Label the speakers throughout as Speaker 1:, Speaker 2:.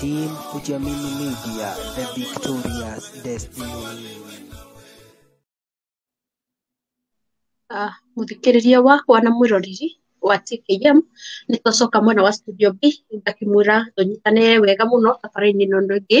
Speaker 1: Team Kujiamini Media, the victorious destiny. Ah, mũthikĩrĩria wakwa na mwĩroreri wa TKM nĩ twacoka mwena wa studio B ngakĩmwĩra tũnyitane wega mũno thabarĩ-inĩ ĩno ĩngĩ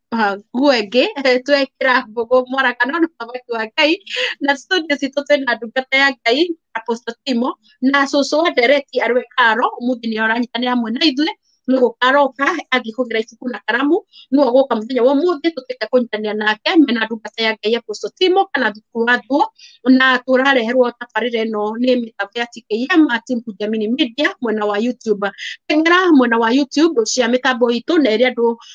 Speaker 1: ah, nguo ĩngĩ twekĩra mbũgũ mwaraka no mũthamaki wa ngai na studio citũ twĩna ndungata ya ngai apostle timo na cũcũ wa ndereti arwe karo mũthĩ nĩ oranyitanĩra hamwe na ithuĩ nĩ gũkaroka athiĩ kũgĩra ibuku na karamu nĩwe gũka mũthenya wa ũmũthĩ tũtuĩke kũnyitanĩra nake mena ndungata ya ngai apostle timo kana thukuru wa thuo na tũrareherwo tabarĩra ĩno nĩ mĩtambo ya tkm team kujamini media mwena wa youtube teng'era mwena wa youtube cia mĩtambo itũ na ĩrĩa andũ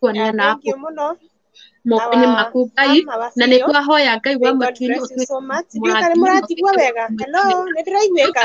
Speaker 1: kuonana na thank you mũno mokoinĩ Our maku ngai mama wa na nĩ CEO, twahoya ngai wa May God matuinĩ bless you so much. Ndiũĩ kana mũratigua wega. Hello, nĩ ndĩraiguĩka?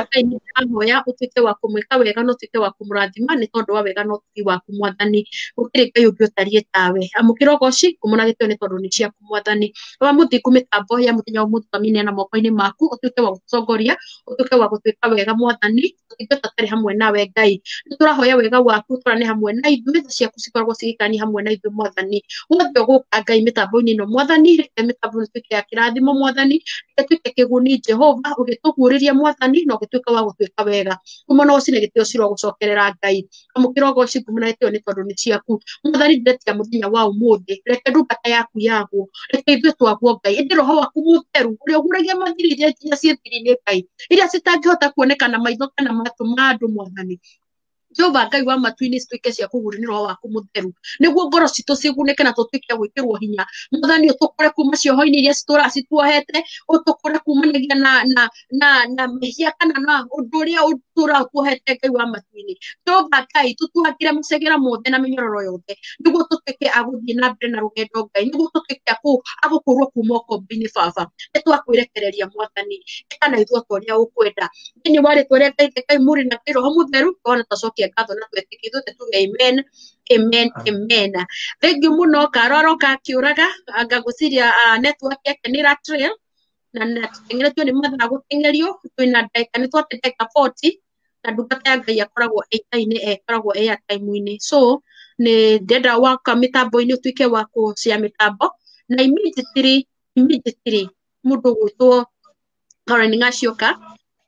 Speaker 1: ahoya ũtuĩke wa kũmwĩka wega na ũtuĩke wa kũmũrathima nĩ tondũ wa wega na ũtugi waku mwathani gũkĩrĩ ngai ũngĩ ũtariĩ tawe amũkĩra ũgoci kũmũragĩtwo nĩ tondũ nĩ ciaku mwathani wa mũthingu mĩtambo ya mũthenya wa mũthutũkamine na mokoinĩ maku ũtuĩke wa gũtongoria ũtuĩke wa gũtuĩka wega mwathani tũngĩngata tarĩ hamwe nawe ngai nĩ tũrahoya wega waku tũrane hamwe na ithuĩ tha ciaku cikoragwo cigĩkani hamwe na ithuĩ mwathani wothe ũgũka ngai mĩtambo-inĩ ĩno mwathani reke mĩtambo ĩno tuĩke ya kĩrathimo mwathani reke tuĩke kĩguni jehova ũgĩtũguũrĩria mwathani na ũgĩtuĩka wa gũtuĩka wega kuma na ũcine gĩtĩo ciro gũcokerera ngai amukira ugoci ikumi na ĩtĩo nĩ tondũ nĩ ciaku mwathani ndĩretia mũthenya wa ũmũthĩ reke ndungata yaku yagwo reke ithuĩ twagwo ngai ĩndĩ roho waku mũtheru ũrĩa ũguragia mathiri iria nginya ciĩ thiri-inĩ ngai iria citangĩhota kuoneka na maitho kana matũ ma andũ mwathani jehova ngai wa matu-inĩ cituĩke cia kũgũrũ nĩ roho waku mũtheru nĩguo ngoro citũ cigunĩke na tũtuĩke a gwĩkĩrwo hinya mwathani ũtũkũre kuma cioho-inĩ iria citũraga cituohete ũtũkũre kumanagia na, na na na mehia kana na undu uria turakuhete ngai wa matuini jehova ngai tutuhakire macegera mothe na minyororo yothe niguo tutuike aguthii na mbere na rugendo ngai niguo tutuike agukurwo kuma ukombi-ini baba ni twakwirekereria mwathani kana ithuo toria ukwenda thiini wa ritwa ria ngai ngai muri na ngai roho mutheru ona tacokia ngatho na twetiki ithuothe tuge amen amen amen thengiu muno karoro kakiuraga ngagwiciria network yake ni ratrail na na tũtengeretio nĩ mathaa gũtengerio twĩna ndagĩka nĩ twate ndagĩka 40 na ndungata ya ngai akoragwo ĩitainĩ ĩkoragwo ĩ ya time-inĩ so nĩ ndenda waka mĩtambo-inĩ ũtuĩke wa kũcia mĩtambo na immediately immediately mũndũ gwĩtwo Karen Ngacioka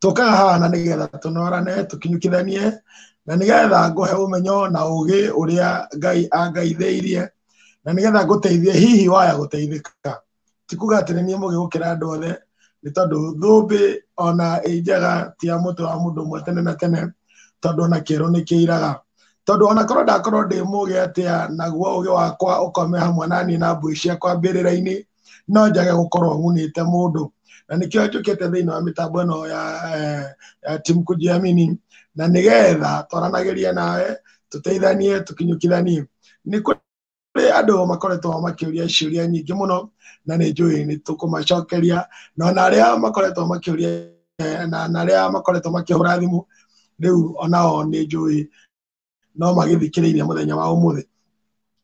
Speaker 1: tũkaga haha na nĩgetha tũnorane tũkinyũkithanie na nĩgetha ngũhe ũmenyo na ũgĩ ũrĩa ngai angaithĩirie na nĩgetha ngũteithie hihi waya gũteithĩka ti kuga atĩ nĩ niĩ mũgĩ gũkĩra andũ othe nĩ tondũ thũmbĩ ona ĩ njega ti ya mũtwe wa mũndũ ũmwe tene na tene tondũ ona kĩerũ nĩ kĩiraga tondũ ona korwo ndakorwo ndĩ mũgĩ atĩa naguo ũgĩ wakwa ũkome hamwe na niĩ na mbũi ciakwa mbĩrĩra-inĩ no njage gukorwo ngunite mundu na nikio njukite thiini wa mitambo ino ya eh, ya timu kujiamini na nigetha twaranagirie nawe tuteithanie tukinyukithanie ni kuri andu makoretwo makiuria ciuria nyingi muno na ni njui ni tukumacokeria na ona aria makoretwo makiuria eh, na na aria makoretwo makihura thimu riu onao ni njui no magĩthikĩrĩirie mũthenya wa ũmũthĩ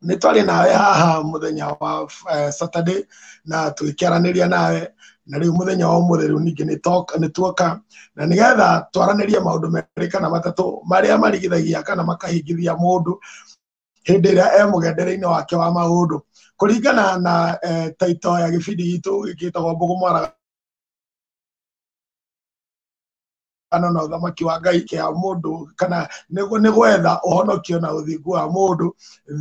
Speaker 1: nĩ twarĩ nawe haha mũthenya wa eh, saturday na tũgĩkĩaranĩria nawe na rĩu mũthenya wa ũmũthĩ rĩu ningĩ nĩ toka- nĩ tuoka na nĩgetha twaranĩrie maũndũ merĩ kana matatũ marĩa marigithagia kana makahingithia mũndũ hĩndĩ ĩrĩa e mũgendere-inĩ wake wa maũndũ kũringana na eh, taito ya gĩbindi gitũ gĩkĩtagwo mbũgũ mwaraga gĩthurano na ũthamaki wa ngai kĩa mũndũ kana nĩ gwetha ũhonokio na ũthingu wa mũndũ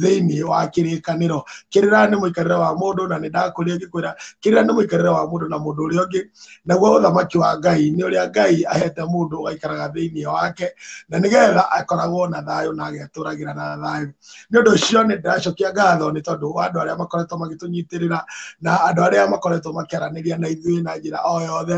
Speaker 1: thĩinĩ wa kĩrĩkanĩro kĩrĩra nĩ mũikarĩre wa mũndũ na nĩ ndakũria ngĩkwĩra kĩrĩra nĩ mũikarĩre wa mũndũ na mũndũ ũrĩa ũngĩ naguo ũthamaki wa ngai nĩ ũrĩa ngai ahete mũndũ ũgaikaraga thĩinĩ wake na nĩgetha akoragwo na thayũ na agetũragĩra na thayũ nĩ ũndũ ũcio nĩ ndĩracokia ngatho nĩ tondũ wa andũ arĩa makoretwo magĩtũnyitĩrĩra na andũ arĩa makoretwo makĩaranĩria na ithuĩ na njĩra o yothe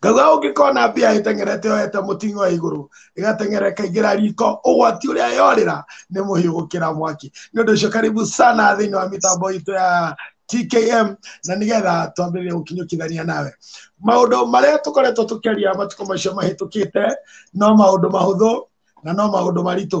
Speaker 1: ngauga ũngĩkona mbia ĩteng'erete yoete mũting'o wa igũrũ ĩgateng'era ĩkaingĩra riko ũgwati ũrĩa yorĩra nĩ mũhiũ gũkĩra mwaki nĩ ũndũ ũcio karibu sana thĩinĩ wa mĩtambo itũ ya tkm na nĩgetha twambĩrĩrie gũkinyũkithania nawe maũndũ marĩa tũkoretwo tũkĩaria matukũ macio mahĩtũkĩte no maũndũ mahũthũ na no maũndũ maritũ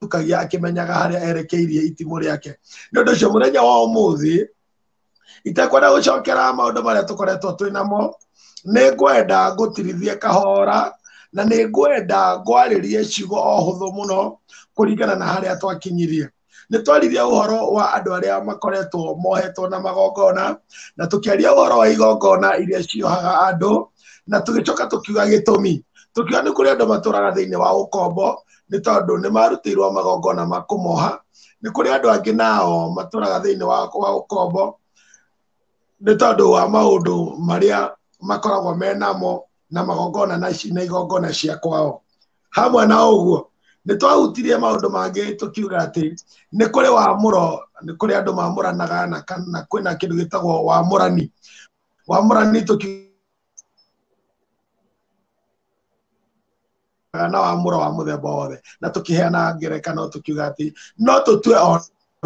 Speaker 1: tukagia akĩmenyaga harĩa erekeirie itimũ rĩake nĩ ũndũ ũcio mũthenya wa ũmũthĩ itekwenda gũcokera maũndũ marĩa tũkoretwo twĩ namo nĩ ngwenda ngũtirithie kahora na nĩ ngwenda ngwarĩrie ciugo o hũthũ mũno kũringana na harĩa twakinyirie nĩ twaririe ũhoro wa andũ arĩa makoretwo mohetwo na magongona na tũkĩaria ũhoro wa igongona iria ciohaga andũ na tũgĩcoka tũkiuga gĩtũmi tũkiuga nĩ kũrĩ andũ matũraga thĩinĩ wa ũkombo nĩ tondũ nĩ marutĩirwo magongona ma kũmoha nĩ kũrĩ andũ angĩ nao matũraga thĩinĩ wa wa ũkombo nĩ tondũ wa maũndũ marĩa makoragwo me namo na magongona na ici na igongona cia kwao hamwe na ũguo nĩ twahutirie maũndũ mangĩ tũkiuga atĩ nĩ kũrĩ wamũro nĩ kũrĩ andũ mamũranaga na kana kwĩna kĩndũ gĩtagwo wamũrani wamũrani tũkiuga na wa mũra wa mũthemba wothe na tũkĩheana ngerekano tũkiuga atĩ no tũtue o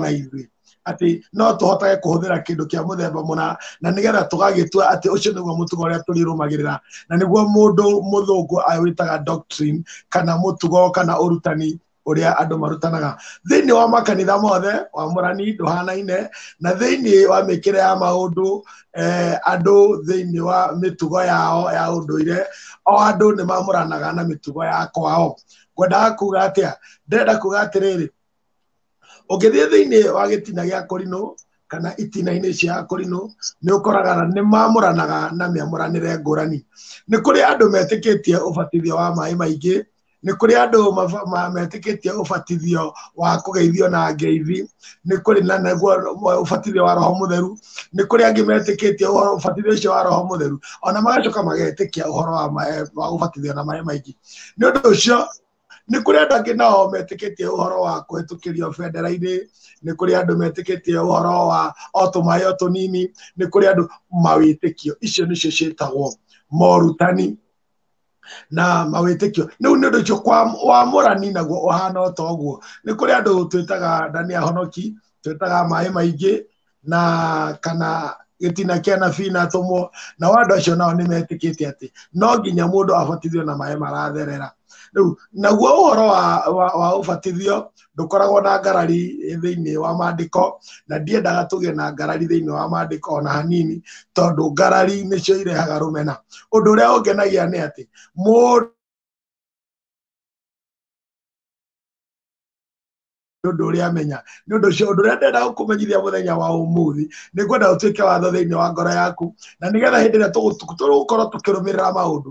Speaker 1: na ithuĩ atĩ no tũhotage kũhũthĩra kĩndũ kĩa mũthemba mũna na nĩgetha tũgagĩtua atĩ ũcio nĩguo mũtugo ũrĩa tũrĩrũmagĩrĩra na nĩguo mũndũ mũthũngũ awĩtaga doctrine kana mũtugo kana ũrutani ũrĩa andũ marutanaga thĩinĩ wa makanitha mothe wamũrani ndũhanaine na thĩinĩ wa mĩkĩre ya maũndũ eh, andũ thĩinĩ wa mĩtugo yao ya ũndũire o andũ nĩ mamũranaga na mĩtugo ya kwao ngwendaga kuga atĩa ndĩrenda kuga atĩrĩrĩ ũngĩthiĩ thĩinĩ wa gĩtina gĩa kũrinũ kana itina-inĩ cia kũrinũ nĩ ũkoraga nĩ mamũranaga na mĩamũranĩre ngũrani nĩ kũrĩ andũ metĩkĩtie ũbatithio wa maĩ maingĩ nĩ kũrĩ andũ maba- ma- metĩkĩtie ũbatithio wa kũgeithio na ngeithi nĩ kũrĩ na naguo ũbatithio wa roho mũtheru nĩ kũrĩ angĩ metĩkĩtie ũhoro ũbatithio ũcio wa roho mũtheru ona magacoka magetĩkia ũhoro wa maĩ- wa gũbatithio na maĩ maingĩ nĩ ũndũ ũcio nĩ kũrĩ andũ angĩ nao metĩkĩtie ũhoro wa kũhĩtũkĩrio bendera-inĩ nĩ kũrĩ andũ metĩkĩtie ũhoro wa o tũmaĩ o tũnini nĩ kũrĩ andũ mawĩtĩkio icio nĩcio ciĩtagwo morutani na mawĩtĩkio rĩu nĩ ũndũ ũcio kwa- wamũrani naguo ũhana o ta ũguo nĩ kũrĩ andũ twĩtaga ndani ahonoki twĩtaga maĩ maingĩ na kana gĩtina kĩa nabii na atũmwo nao andũ acio nao nĩ metĩkĩte atĩ no nginya mũndũ abatithio na maĩ maratherera rĩu naguo ũhoro wa, wa, wa ũbatithio ndũkoragwo na ngarari thĩinĩ wa maandĩko na ndiendaga tũgĩe na ngarari thĩinĩ wa maandĩko ona hanini tondũ ngarari nĩcio irehaga rũmena ũndũ ũrĩa ũngenagia nĩ atĩ mũndũ nĩ ũndũ ũrĩa amenya nĩ ũndũ ũcio ũndũ ũrĩa ndĩrenda gũkũmenyithia mũthenya wa ũmũthĩ nĩ ngwenda ũtuĩke watho thĩinĩ wa ngoro yaku na nĩgetha hĩndĩ ĩrĩa tũgũkorwo tũkĩrũmĩrĩra maũndũ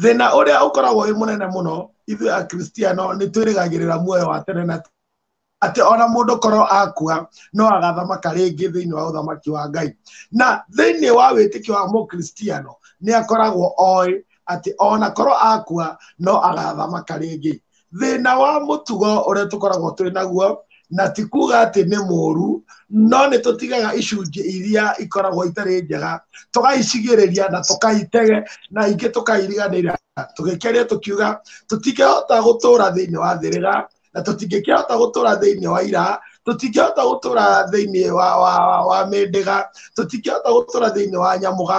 Speaker 1: thĩna ũrĩa ũkoragwo wĩ mũnene mũno ithuĩ akristiano nĩ twĩrĩgagĩrĩra muoyo wa tene na atĩ ona mũndũ korwo akua no agathamaka rĩngĩ thĩinĩ wa ũthamaki wa ngai na thĩinĩ wa wĩtĩkio wa mũkristiano nĩ akoragwo oĩ atĩ ona korwo akua no agathamaka rĩngĩ thĩna wa mũtugo ũrĩa tũkoragwo twĩ naguo na ti kuga atĩ nĩ mũũru no nĩ tũtigaga icunjĩ iria ikoragwo itarĩ njega tũgaicigĩrĩria na tũkaitege na ingĩ tũkairiganĩra tũgĩkeria tũkiuga tũtingĩhota gũtũra thĩinĩ wa thĩrĩra na tũtingĩkĩhota gũtũra thĩinĩ wa ira tũtingĩhota gũtũra thĩinĩ wa, wa, wa, wa mĩndĩga tũtingĩhota gũtũra thĩinĩ wa nyamũga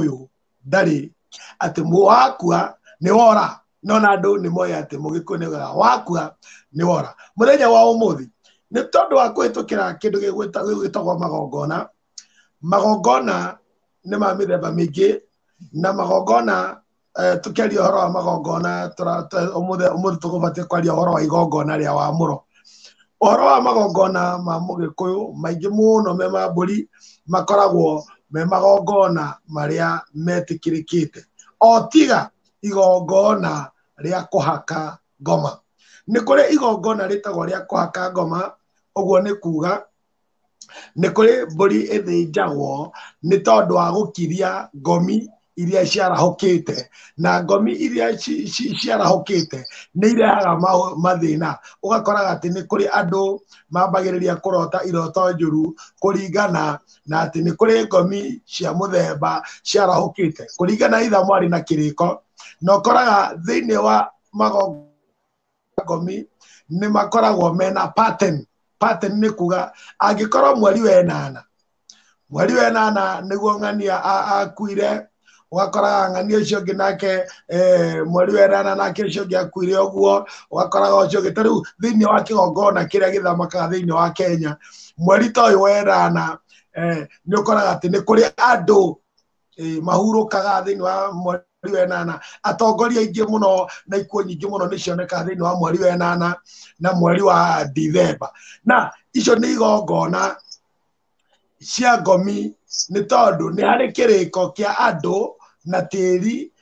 Speaker 1: ũyũ ndarĩ atĩ wakua nĩ wora no na andũ nĩ moĩ atĩ mũgĩkũyũ nĩ wora wakua nĩ wora mũthenya wa ũmũthĩ nĩ tondũ wa kũhĩtũkĩra kĩndũ gĩgwĩtagwo magongona magongona nĩ ma mĩthemba mĩingĩ na magongona eh, tukiaria horo wa magongona umuthi umuthi tukubatie kwaria horo wa igongona ria wa muro horo wa magongona ma mugikuyu maingi muno me ma mburi makoragwo me magongona maria metikirikite o tiga igongona ria kuhaka ngoma ni kuri igongona ritagwo ria kuhaka ngoma uguo ni kuga nĩ kũrĩ mbũri ĩthĩnjagwo nĩ tondũ wa gũkiria ngomi iria ciarahũkĩte na ngomi iria ci- ci- ciarahũkĩte nĩ irehaga ma- mathĩna ũgakoraga atĩ nĩ kũrĩ andũ mambagĩrĩria kũrota iroto njũru kũringana na atĩ nĩ kũrĩ ngomi cia mũthemba ciarahũkĩte kũringana itha mwarĩ na kĩrĩko na ũkoraga thĩinĩ wa magongo ngomi nĩ makoragwo mena pattern pattern nĩ kuga angĩkorwo mweri wenana mweri wenana nĩguo ng'ania a- akuire ũgakoraga ng'ania ũcio ũngĩ nake eh, mweri wenana nake ũcio ũngĩ akuire ũguo ũgakoraga ũcio ũngĩ ta rĩu thĩinĩ wa kĩgongona kĩrĩa gĩthamakaga thĩinĩ wa kenya mweri ta ũyũ wenana eh, nĩ ũkoraga atĩ nĩ kũrĩ andũ Ĩĩ, mahurũkaga thĩinĩ wa mweri wa enana atongoria aingĩ mũno na ikuũ nyingĩ mũno nĩ cionekaga thĩinĩ wa mweri wa enana na mweri wa dithemba na icio nĩ igongona cia ngomi nĩ tondũ nĩ harĩ kĩrĩko kĩa andũ na tĩri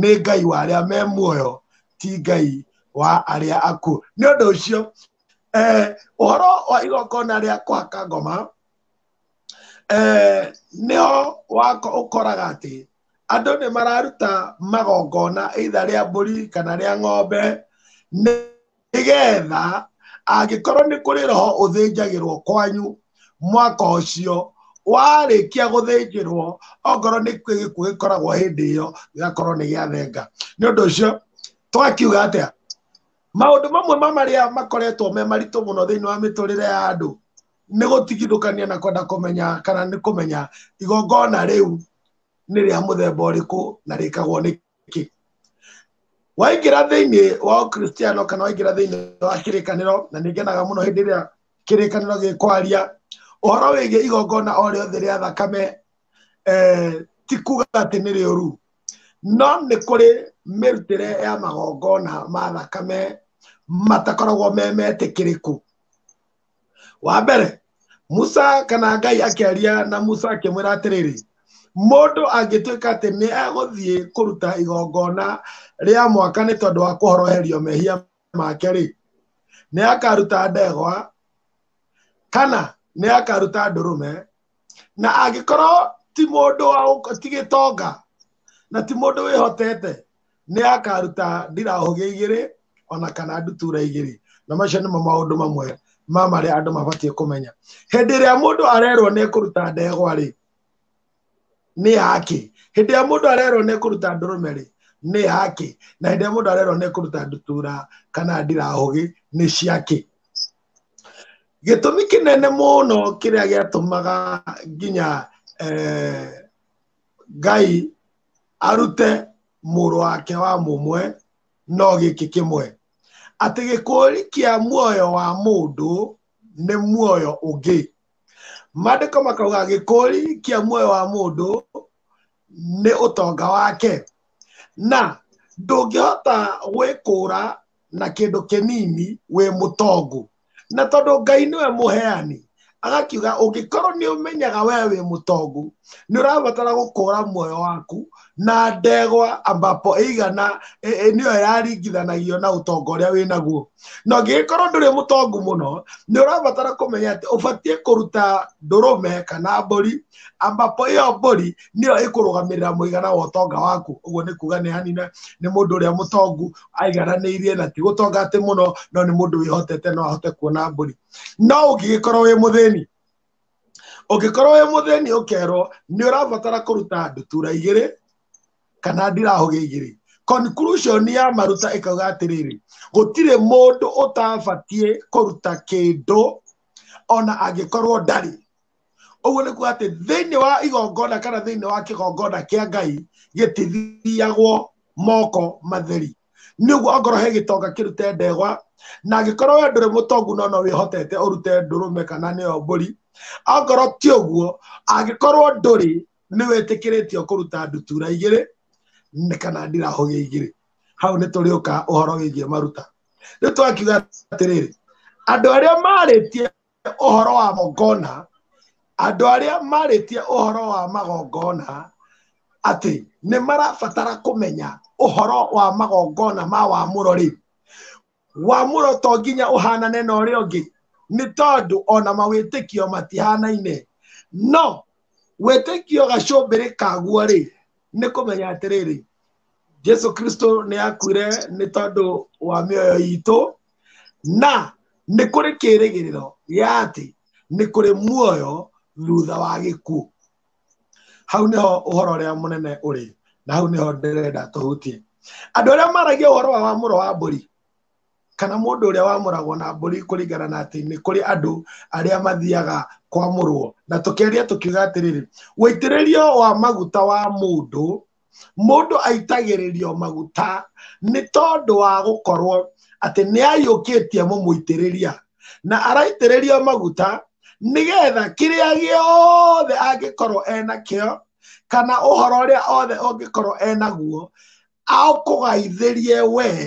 Speaker 1: nĩ ngai wa arĩa me muoyo ti ngai wa arĩa akuũ nĩ ũndũ ũcio eh, ũhoro wa igongona rĩa kũhaka ngoma eh, nĩho wako ũkoraga atĩ andũ nĩ mararuta magongona either rĩa mbũri kana rĩa ng'ombe nĩ nĩgetha angĩkorwo nĩ kũrĩ roho ũthĩnjagĩrwo kwanyu mwaka ũcio warĩkia gũthĩnjĩrwo okorwo nĩ gĩkuũ gĩkoragwo hĩndĩ ĩyo gĩgakorwo nĩ gĩathenga nĩ ũndũ ũcio twakiuga atĩa maũndũ mamwe ma marĩa makoretwo me maritũ mũno thĩinĩ wa mĩtũrĩre ya andũ nĩ gũtigithũkania na kwenda kũmenya kana nĩ kũmenya igongona rĩu nĩ rĩa mũthemba ũrĩkũ na rĩkagwo nĩ kĩ waingĩra thĩinĩ wa ũkristiano kana waingĩra thĩinĩ wa kĩrĩkanĩro na nĩngenaga mũno hĩndĩ ĩrĩa kĩrĩkanĩro gĩkwaria ũhoro wĩgiĩ igongona o rĩothe rĩa thakame eh, ti kuga atĩ nĩ rĩũru no nĩ kũrĩ mĩrutĩre ya magongona ma thakame matakoragwo me metĩkĩrĩku wa mbere musa kana ngai akĩaria na musa akĩmwĩra atĩrĩrĩ mũndũ angĩtuĩka atĩ nĩ egũthiĩ kũruta igongona rĩa mwaka nĩ tondũ wa kũhoroherio mehia make rĩ nĩ akaruta ndegwa kana nĩ akaruta ndũrũme na angĩkorwo ti mũndũ wa ũk- ti gĩtonga na ti mũndũ wĩhotete nĩ akaruta ndirahũgĩ igĩrĩ ona kana ndutura igĩrĩ na macio nĩmo maũndũ mamwe ma marĩa andũ mabatiĩ kũmenya hĩndĩ ĩrĩa mũndũ arerwo nĩ kũruta ndegwa rĩ nĩ yake hĩndĩ ĩrĩa mũndũ arerwo nĩ kũruta ndũrũme rĩ nĩ yake na hĩndĩ ĩrĩa mũndũ arerwo nĩ kũruta ndutura kana ndirahũgĩ nĩ ciake gĩtũmi kĩnene mũno kĩrĩa gĩatũmaga nginya eh, ngai arute mũrũ wake wa mũmwe no gĩkĩ kĩmwe atĩ gĩkũri kĩa muoyo wa mũndũ nĩ muoyo ũngĩ maandĩko makauga gĩkũri kĩa muoyo wa mũndũ nĩ ũtonga wake na ndũngĩhota gwĩkũra na kĩndũ kĩnini wĩ mũtongu na tondũ ngai nĩwe mũheani agakiuga ũngĩkorwo nĩ ũmenyaga wee wĩ mũtongu nĩ ũrabatara gũkũra muoyo waku na ndegwa ambapo ĩigana ĩ- ĩ- nĩyo yaringithanagio na ũtonga ũrĩa wĩ naguo na ũngĩgĩkorwo ndũrĩ mũtongu mũno nĩ ũrabatara kũmenya atĩ ũbatiĩ kũruta ndũrũme kana mbũri ambapo ĩyo mbũri nĩyo ĩkũrũgamĩrĩra mũigana wa ũtonga waku ũguo nĩ kuga nĩ hanina nĩ mũndũ ũrĩa mũtongu aigananĩirie na ti gũtonga atĩ mũno no nĩ mũndũ wĩhotete no ahote kuona mbũri no ũngĩgĩkorwo wĩ mũthĩni ũngĩkorwo wĩ mũthĩni ũkerwo nĩ ũrabatara kũruta ndutura igĩrĩ kana ndirahũgĩ igĩrĩ conclusion ya maruta ĩkauga atĩrĩrĩ gũtirĩ mũndũ ũtabatiĩ kũruta kĩndũ ona angĩkorwo ndarĩ ũguo nĩ kuga atĩ thĩinĩ wa igongona kana thĩinĩ wa kĩgongona kĩa ngai gĩtithiagwo moko matheri nĩ ũguo ongorwo he gĩtonga kĩrute ndegwa na angĩkorwo we ndũrĩ mũtongu no no wĩhotete ũrute ndũrũme kana nĩyo mbũri ongorwo ti ũguo angĩkorwo ndũrĩ nĩ wĩtĩkĩrĩtio kũruta ndutura igĩrĩ nĩ kana ndirahũgĩ igĩrĩ hau nĩ tũrĩũka ũhoro wĩgiĩ maruta rĩu twakiuga atĩrĩrĩ andũ arĩa marĩtie ũhoro wa magongona andũ arĩa marĩtie ũhoro wa magongona atĩ nĩ marabatara kũmenya ũhoro wa magongona ma wamũro rĩ wamũro to nginya ũhanane na ũrĩa ũngĩ nĩ tondũ ona mawĩtĩkio matihanaine no wĩtĩkio gacũmbĩrĩ kaguo rĩ nĩ kũmenya atĩrĩrĩ jesu kristo nĩ akuire nĩ tondũ wa mĩoyo itũ na nĩ kũrĩ kĩĩrĩgĩrĩro gĩa atĩ nĩ kũrĩ muoyo thutha wa gĩkuũ hau nĩho ũhoro ũrĩa mũnene ũrĩ na hau nĩho ndĩrenda tũhutie andũ arĩa maragia ũhoro wa wa mũro wa mbũri kana mũndũ ũrĩa wamũragwo na mbũri kũringana na atĩ nĩ kũrĩ andũ arĩa mathiaga kwamũrwo na tũkĩaria tũkiuga atĩrĩrĩ wĩitĩrĩrio wa maguta wa mũndũ mũndũ aitagĩrĩrio maguta nĩ tondũ wa gũkorwo atĩ nĩ aiyũkĩtie mũmũitĩrĩria na araitĩrĩrio maguta nĩgetha kĩrĩa gĩothe angĩkorwo enakĩo kana ũhoro ũrĩa othe ũngĩkorwo enaguo aũkũgaithĩrie wee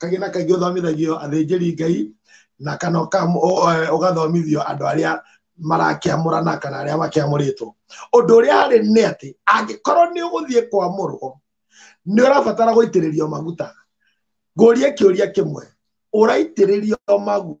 Speaker 1: kaingĩ na kaingĩ ũthomithagio athĩnjĩri ngai na kana ũka- ũ- ũ- ũgathomithio andũ arĩa marakĩamũrana kana arĩa makĩamũrĩtwo ũndũ ũrĩa harĩ nĩ atĩ angĩkorwo nĩ ũgũthiĩ kwamũrwo nĩ ũrabatara gũitĩrĩrio maguta ngũrie kĩũria kĩmwe ũraitĩrĩrio maguta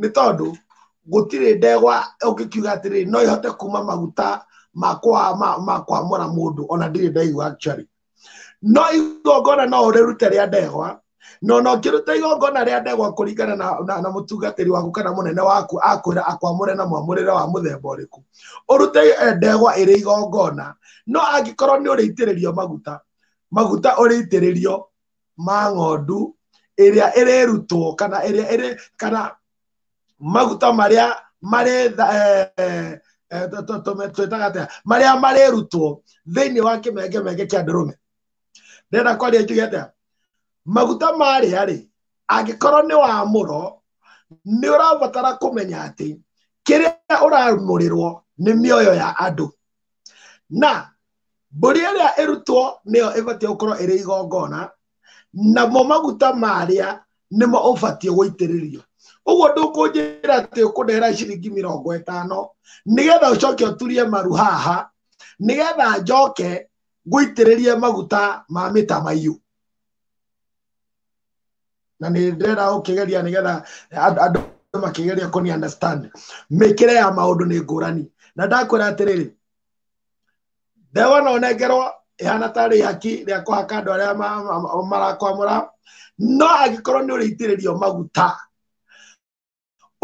Speaker 1: nĩ tondũ gũtirĩ ndegwa ũngĩkiuga atĩrĩ no ĩhote kuma maguta makwa makwamũra mũndũ ona ndirĩ ndaigua actually no igongona no ũrĩrute rĩa ndegwa no no ngĩruta igongona rĩa ndegwa kũringana na, na, na mũtungatĩri waku kana mũnene waku akwĩra akwamũre na mwamũrĩre wa mũthemba ũrĩkũ ũrute eh, ndegwa ĩrĩ igongona no angĩkorwo nĩ ũrĩitĩrĩrio maguta maguta ũrĩitĩrĩrio ma ng'ondu ĩrĩa ĩrĩrutwo kana ĩrĩa ĩrĩ kana maguta marĩa marĩ tha- eh, eh, tũ- tũ- tũ- twĩtaga atĩa marĩa marĩrutwo thĩinĩ wa kĩmengemenge kĩa ndũrũme ndĩrenda kwaria njuge atĩa maguta marĩa rĩ angĩkorwo nĩ wa mũro nĩ ũrabatara kũmenya atĩ kĩrĩa ũramũrĩrwo nĩ mĩoyo ya andũ na mbũri ĩrĩa ĩrutwo nĩyo ĩbatiĩ gũkorwo ĩrĩ igongona namo maguta marĩa nĩmo ũbatiĩ gũitĩrĩrio ũguo ndũkũnjĩra atĩ ũkũndehera ciringi mĩrongo ĩtano nĩgetha ũcoke ũturie maru haha nĩgetha njoke ngũitĩrĩrie maguta ma mĩtamaiyũ na nĩ ndĩrenda ũkĩgeria nĩgetha and- andũ makĩgeria kũni understand mĩkĩre ya maũndũ nĩ ngũrani na ndakwĩra atĩrĩrĩ ndewa no nengerwo ihana ta rĩaki rĩa kũhaka andũ arĩa ma- ma- ma- marakwamũra no angĩkorwo nĩ ũrĩitĩrĩrio maguta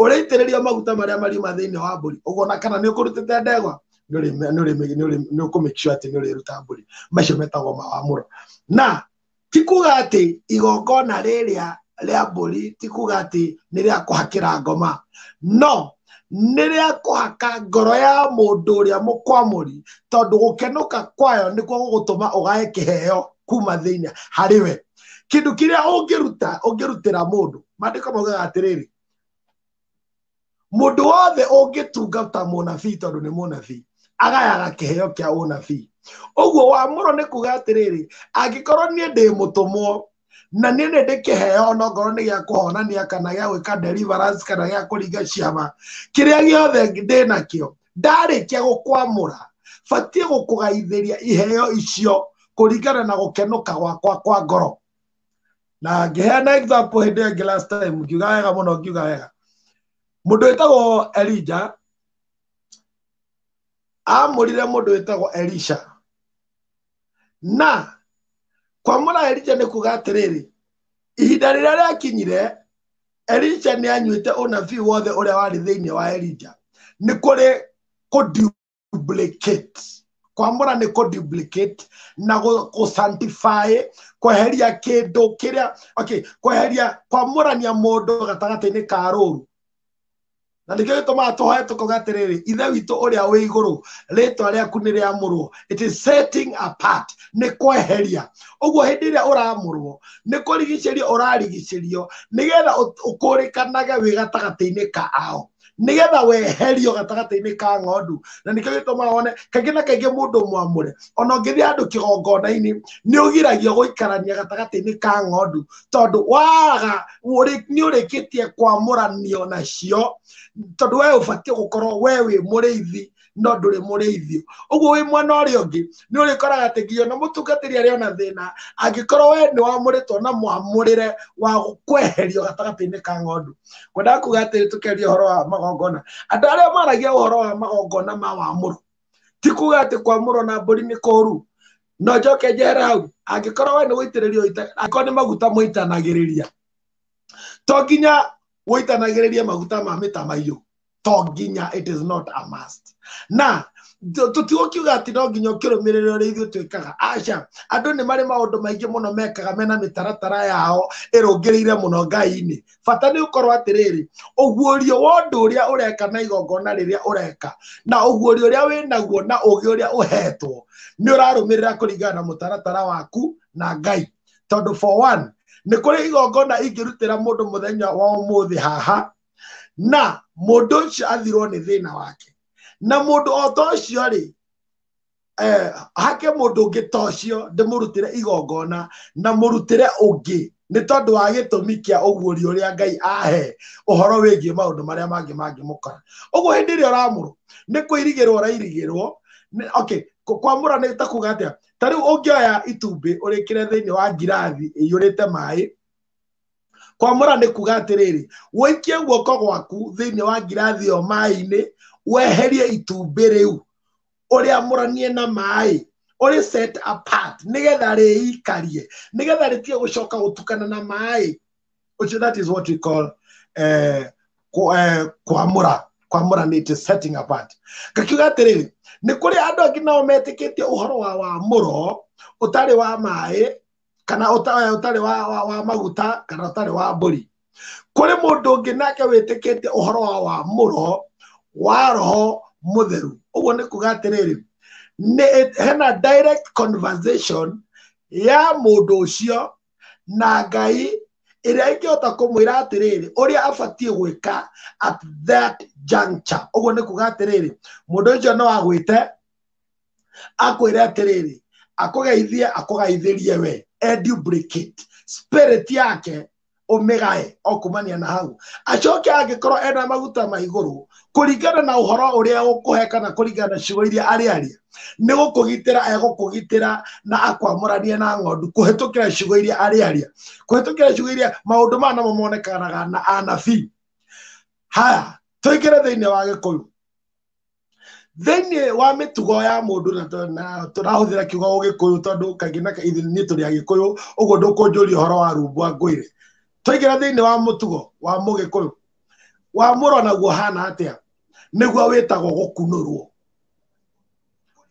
Speaker 1: ũrĩitĩrĩrio maguta marĩa mariuma thĩinĩ wa mbũri ũguo na kana nĩ ũkũrutĩte ndegwa nĩ ũrĩ- nĩ ũrĩ- nĩ ũrĩ- nĩ ũkũmĩkisho atĩ nĩ ũrĩruta mbũri macio metagwo mawamũro na ti kuga atĩ igongona rĩrĩa rĩa mbũri ti kuga atĩ nĩ rĩa kũhakĩra ngoma no nĩ rĩa kũhaka ngoro ya mũndũ ũrĩa mũkwamũri tondũ gũkenũka kwayo nĩkuo gũgũtũma ũgae kĩheo kuma thĩinĩ harĩ we kĩndũ kĩrĩa ũngĩruta ũngĩrutĩra mũndũ maandĩko maugaga atĩrĩrĩ mũndũ wothe ũngĩtungata mũnabii tondũ nĩ mũnabii agayaga kĩheo kĩa ũnabii ũguo wamũro nĩ kuga atĩrĩrĩ angĩkorwo niĩ ndĩ mũtũmwo na niĩ nĩ ndĩkĩheo onokorwo nĩ gĩa kũhonania kana gĩa gwĩka deliverance kana gĩa kũringa ciama kĩrĩa gĩothe ndĩ nakĩo ndarĩkia gũkwamũra batiĩ gũkũgaithĩria iheo icio kũringana na gũkenũka gwakwa kwa ngoro na ngĩheana example hĩndĩ ĩngĩ last time ngiuga wega mũno ngiuga wega mũndũ wĩtagwo elija amũrire mũndũ wĩtagwo elisha na kwamũra elija nĩ kuga atĩrĩrĩ ihinda rĩrĩa rĩakinyire elisha nĩ anyuĩte ũnabii wothe ũrĩa warĩ thĩinĩ wa elija nĩ kũrĩ kũndiu duplicate kwamũra nĩ kũ duplicate na gũ- gũ sanctify kweheria kĩndũ kĩrĩa okay kweheria kwamũrania mũndũ gatagatĩ-inĩ ka rũru na nĩkĩo gĩtũmaga tũhoe tũkoga atĩrĩrĩ ithe witũ ũrĩa wĩ igũrũ rĩtwa rĩaku nĩ rĩamũrwo it is setting apart nĩ kweheria ũguo hĩndĩ ĩrĩa ũramũrwo nĩ kũrigicĩrio ũrarigicĩrio nĩgetha ũt- ũkũrĩkanage wĩ gatagatĩ-inĩ kao nigetha weherio gatagatĩ-inĩ ka ng'ondu na nĩkĩo gĩtũmaga wone kaingĩ na kaingĩ mũndũ mwamũre ona ũngĩthiĩ handũ kĩgongona-inĩ nĩ ũgiragio gũikarania gatagatĩ-inĩ ka ng'ondu tondũ waga ũrĩ- nĩ ũrĩkĩtie kwamũranio nacio tondũ we ũbatiĩ gũkorwo we wĩ mũrĩithi no ndũrĩ mũrĩithio ũguo wĩ mwena ũrĩa ũngĩ nĩ ũrĩkoraga atĩ nginya ona mũtungatĩri arĩ ona thĩna angĩkorwo we nĩ wamũrĩtwo na mwamũrĩre wa kweherio gatagatĩ-inĩ ka ng'ondu ngwendaga kuga atĩrĩ tũkĩaria ũhoro wa magongona andũ arĩa maragia ũhoro wa magongona ma wamũrũ ti kuga atĩ kwamũrwo na mbũri nĩ kũũru no njoke njere hau angĩkorwo we nĩ gũitĩrĩria ũita- angĩkorwo nĩ maguta mũitanagĩrĩria to nginya ũitanagĩrĩrie maguta ma mĩtamaiyũ to nginya it is not a must na tũ- tũtigwo kiuga atĩ no nginya ũkĩrũmĩrĩra ũrĩa ithuĩ twĩkaga aca andũ nĩ marĩ maũndũ maingĩ mũno mekaga mena mĩtaratara yao ĩrũngĩrĩire mũno ngai-inĩ bata nĩ ũkorwo atĩrĩrĩ ũguũrio wa ũndũ ũrĩa ũreka na igongona rĩrĩa ũreka na ũguũrio ũrĩa wĩnaguo na ũgĩ ũrĩa ũhetwo nĩ ũrarũmĩrĩra kũringana na mũtaratara waku na ngai tondũ for one nĩ kũrĩ igongona ingĩrutĩra mũndũ mũthenya wa ũmũthĩ haha na mũndũ ũcio athirwo nĩ thĩna wake na mũndũ o ta ũcio rĩ eh, hake mũndũ ũngĩ ta ũcio ndĩmũrutĩre igongona na mũrutĩre ũngĩ nĩ tondũ wa gĩtũmi kĩa ũguũri ũrĩa ngai ahe ũhoro wĩgiĩ maũndũ marĩa mangĩ mangĩmũkora ũguo hĩndĩ ĩrĩa ũramũrwo nĩ kũirigĩrwo ũrairigĩrwo nĩ- okay kũ- kwamũra nĩ ta kuga atĩa ta rĩu ũngĩoya itumbĩ ũrĩkĩre thĩinĩ wa ngirathi ĩiyũrĩte maĩ kwamũra nĩ kuga atĩrĩrĩ wĩikie guoko gwaku thĩinĩ wa ngirathi ĩyo maĩ-inĩ weherie itumbĩ rĩu ũrĩamũranie na maĩ ũrĩ set apart nĩgetha rĩikarie nĩgetha rĩtige gũcoka gũtukana na maĩ which that is what we call eh, ku- eh, kwamũra kwamũra nĩ to setting apart ngakiuga atĩrĩrĩ nĩ kũrĩ andũ angĩ nao metĩkĩtie ũhoro wa wamũro ũtarĩ wa maĩ kana ũta- ũtarĩ wa, wa, wa maguta kana ũtarĩ wa mbũri kũrĩ mũndũ ũngĩ nake wĩtĩkĩte ũhoro wa wamũro wa roho mũtheru ũguo nĩ kuga atĩrĩrĩ nĩ- hena direct conversation ya mũndũ ũcio na ngai ĩrĩa ingĩhota kũmwĩra atĩrĩrĩ ũrĩa abatiĩ gwĩka at that juncture ũguo nĩ kuga atĩrĩrĩ mũndũ ũcio no agwĩte akwĩre atĩrĩrĩ akũgeithie akũgaithĩrie we edubricate spirit yake ũmĩgae o kumania na hau acoke angĩkorwo ena maguta ma igũrũ kũringana na ũhoro ũrĩa ũkũhe kana kũringana na ciugo iria arĩ aria nĩ gũkũgitĩra egũkũgitĩra na akwamũranie na ng'ondu kũhĩtũkĩra ciugo iria arĩ aria kũhĩtũkĩra ciugo iria maũndũ maya namo monekanaga na anabii haya tũingĩre thĩinĩ wa gĩkũyũ thĩinĩ wa mĩtugo ya mũndũ na tũ- na tũrahũthĩra kiugo ũgĩkũyũ tondũ kaingĩ na kaingĩ ithuĩ tũrĩ agĩkũyũ ũguo ndũkũnjũria ũhoro wa rumbwa ngwĩre twaingĩra thĩinĩ wa mũtugo wa mũgĩkũyũ wa mũro naguo hana atĩa nĩguo wĩtagwo gũkunũrwo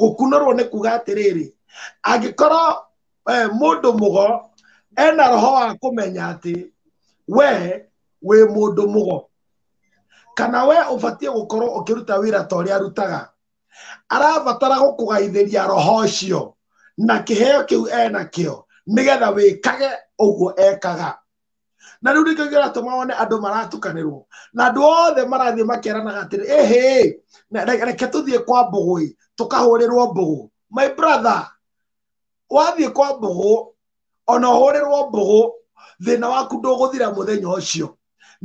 Speaker 1: gũkunũrwo nĩ kuga atĩrĩrĩ angĩkorwo eh, mũndũ mũgo ena roho wa kũmenya atĩ we wĩ mũndũ mũgo kana we ũbatiĩ gũkorwo ũkĩruta wĩra ta ũrĩa arutaga arabatara gũkũgaithĩria roho ũcio na kĩheo kĩu enakĩo nĩgetha wĩkage ũguo ekaga na rĩu nĩkĩo kĩratũma wone andũ maratukanĩrwo na andũ othe marathiĩ makeranaga atĩrĩ ĩhĩ reke tũthiĩ kwa mbũgũĩ tũkahũrĩrwo mbũgũ my brother wathiĩ kwa mbũgũ ona ũhũrĩrwo mbũgũ thĩna waku ndũgũthira mũthenya ũcio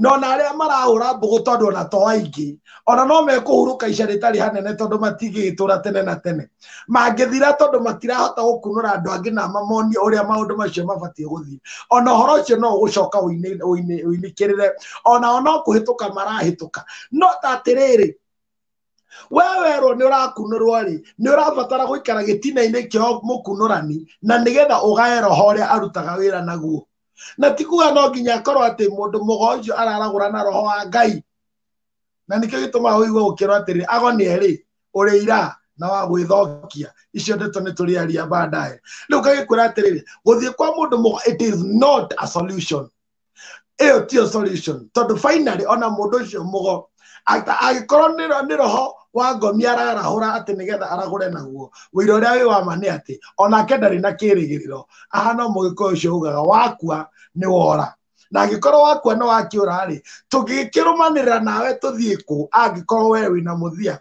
Speaker 1: no na arĩa marahũra mbũgũ tondũ ona to aingĩ ona no mekũhurũka ica rĩtarĩ hanene tondũ matigĩtũra tene na tene mangĩthira tondũ matirahota gũkunũra andũ angĩ na mamonie ũrĩa maũndũ macio mabatiĩ gũthiĩ ona ũhoro ũcio no ũgũcoka ũinĩ- ũinĩ- ũinĩkĩrĩre ona ona kũhĩtũka marahĩtũka no ta atĩrĩrĩ we werwo nĩ ũrakunũrwo rĩ nĩ ũrabatara gũikara gĩtina-inĩ kĩo mũkunũrani na nĩgetha ũgae roho ũrĩa arutaga wĩra naguo na ti kuga no nginya akorwo atĩ mũndũ mũgo ũcio araragũra na roho wa ngai na nĩkĩo gĩtũmaga ũigua ũkĩrwo atĩrĩ ago nĩ erĩ ũrĩ ira na wa gwĩthokia icio ndeto nĩ tũrĩaria bandae rĩu ngagĩkwĩra atĩrĩrĩ gũthiĩ kwa mũndũ mũgo it is not a solution ĩyo tiyo solution tondũ finally ona mũndũ ũcio mũgo ata- agĩkorwo nĩ ro- nĩ roho wa ngomi ararahũra atĩ nĩgetha aragũre naguo wĩira ũrĩa wĩ wama nĩ atĩ onake ndarĩ na kĩrĩgĩrĩro ahana mũgĩkũyũ ũcio ugaga wakua nĩ wora na angĩkorwo wakua nĩ wakĩũra rĩ tũngĩkĩrũmanĩrĩra nawe tũthiĩ kũ angĩkorwo we wĩna mũthia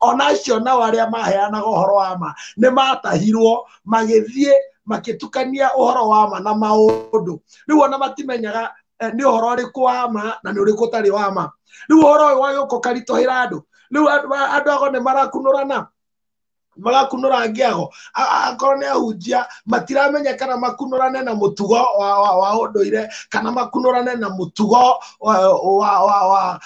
Speaker 1: ona acio nao arĩa maheanaga ũhoro wa ma nĩ matahirwo magĩthiĩ magĩtukania ũhoro wa ma na maũndũ rĩu ona matimenyaga eh, nĩ ũhoro ũrĩkũ wa ma na nĩ ũrĩkũ ũtarĩ wa ma rĩu ũhoro ũyũ wagĩũka ũkaritũhĩra andũ rĩu andũ andũ ago nĩ marakunũrana magakunũra ngĩago A- a- akorwo nĩ ahunjia matiramenya kana makunũrane na mũtugo wa, wa, wa ũndũire kana makunũrane na mũtugo wa, wa, wa, wa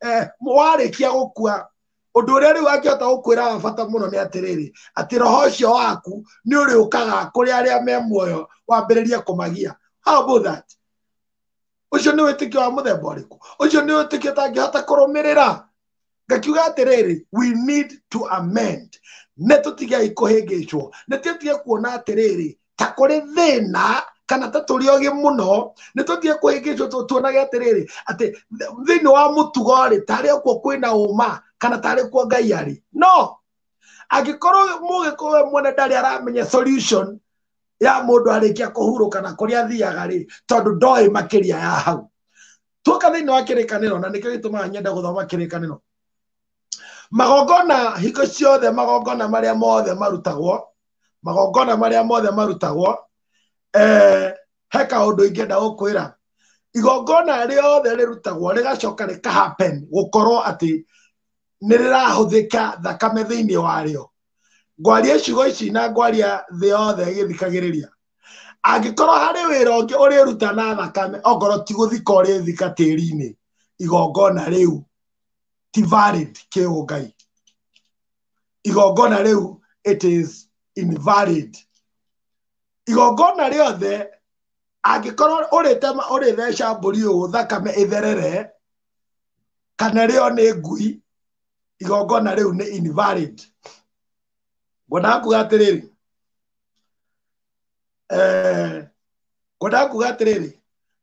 Speaker 1: eh, warĩkia gũkua ũndũ ũrĩa rĩu angĩhota gũkwĩra wa bata mũno nĩ atĩrĩrĩ atĩ roho ũcio waku nĩ ũrĩũkaga kũrĩ arĩa me muoyo wambĩrĩrie kũmagia how about that ũcio nĩ wĩtĩkio wa mũthemba ũrĩkũ ũcio nĩ wĩtĩkio ũtangĩhota kũrũmĩrĩra ngakiuga atĩrĩrĩ we need to amend nĩ tũtigei kũhĩngĩcwo nĩ tũtige kuona atĩrĩrĩ ta kũrĩ thĩna kana ta tũrĩ ogĩ mũno nĩ tũthiĩ kũhĩngĩcwo tuonage atĩrĩrĩ atĩ thĩinĩ wa mũtugo rĩ tarĩ okuo kwĩna ũma kana tarĩ kuo ngai arĩ no angĩkorwo mũgĩkũyũ we mwene ndarĩ aramenya solution ya mũndũ arĩkia kũhurũka na kũrĩa athiaga rĩ tondũ ndoĩ makĩria ya hau tuoka thĩinĩ wa kĩrĩkanĩro na nĩkĩo gĩtũmaga nyenda gũthoma kĩrĩkanĩro magongona hingo ciothe magongona marĩa mothe marutagwo magongona marĩa mothe marutagwo eh, he kaũndũ ingĩenda gũkwĩra igongona rĩothe rĩrutagwo rĩgacoka rĩkahappen gũkorwo atĩ nĩ rĩrahũthĩka thakame thĩinĩ warĩo ngwaria icigo ici na ngwaria thĩ yothe ĩgĩthikagĩrĩria angĩkorwo harĩ wĩra ũngĩ ũrĩruta na thakame okorwo ti gũthika ũrĩthika tĩri-inĩ igongona rĩu ti valid kĩũngai igongona rĩu it is invalid igongona rĩothe angĩkorwo ũrĩtema ũrĩtheca mbũri ũũ thakame ĩtherere kana rĩo nĩ ngui igongona rĩu nĩ invalid ngwenda kuga atĩrĩrĩ eh, ngwenda kuga atĩrĩrĩ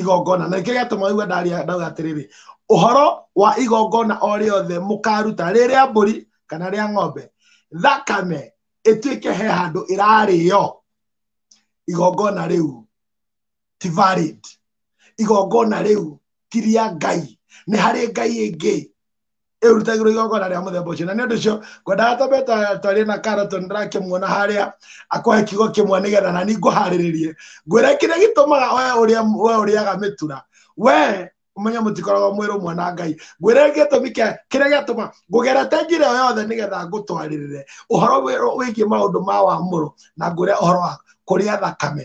Speaker 1: igongona na nĩkĩo gĩatũma waigua ndaria ndauga atĩrĩrĩ ũhoro wa igongona o rĩothe mũkaruta rĩ rĩa mbũri kana rĩa ng'ombe thakame ĩtuĩke he handũ ĩrarĩo igongona rĩu ti valid igongona rĩu ti rĩa ngai nĩ harĩ ngai ĩngĩ ĩrutagĩrwo igongona rĩa mũthemba ũcio na nĩ ũndũ ũcio ngwendaga twambe twa- twarie na karoto ndĩrakimuona harĩa akũhe kiugo kĩmwe nĩgetha na ni ngũharĩrĩrie ngwĩre kĩrĩa gĩtũmaga we ũrĩa we ũrĩaga mĩtura we ũmenye mũtikoragwo mwĩ rũmwe na ngai ngwĩre gĩtũmi kĩa kĩrĩa gĩatũma ngũgerete njĩra ĩyo yothe nĩgetha ngũtwarĩrĩre ũhoro wĩ- wĩgiĩ maũndũ ma wamũrũ na ngwĩre ũhoro wa kũrĩa thakame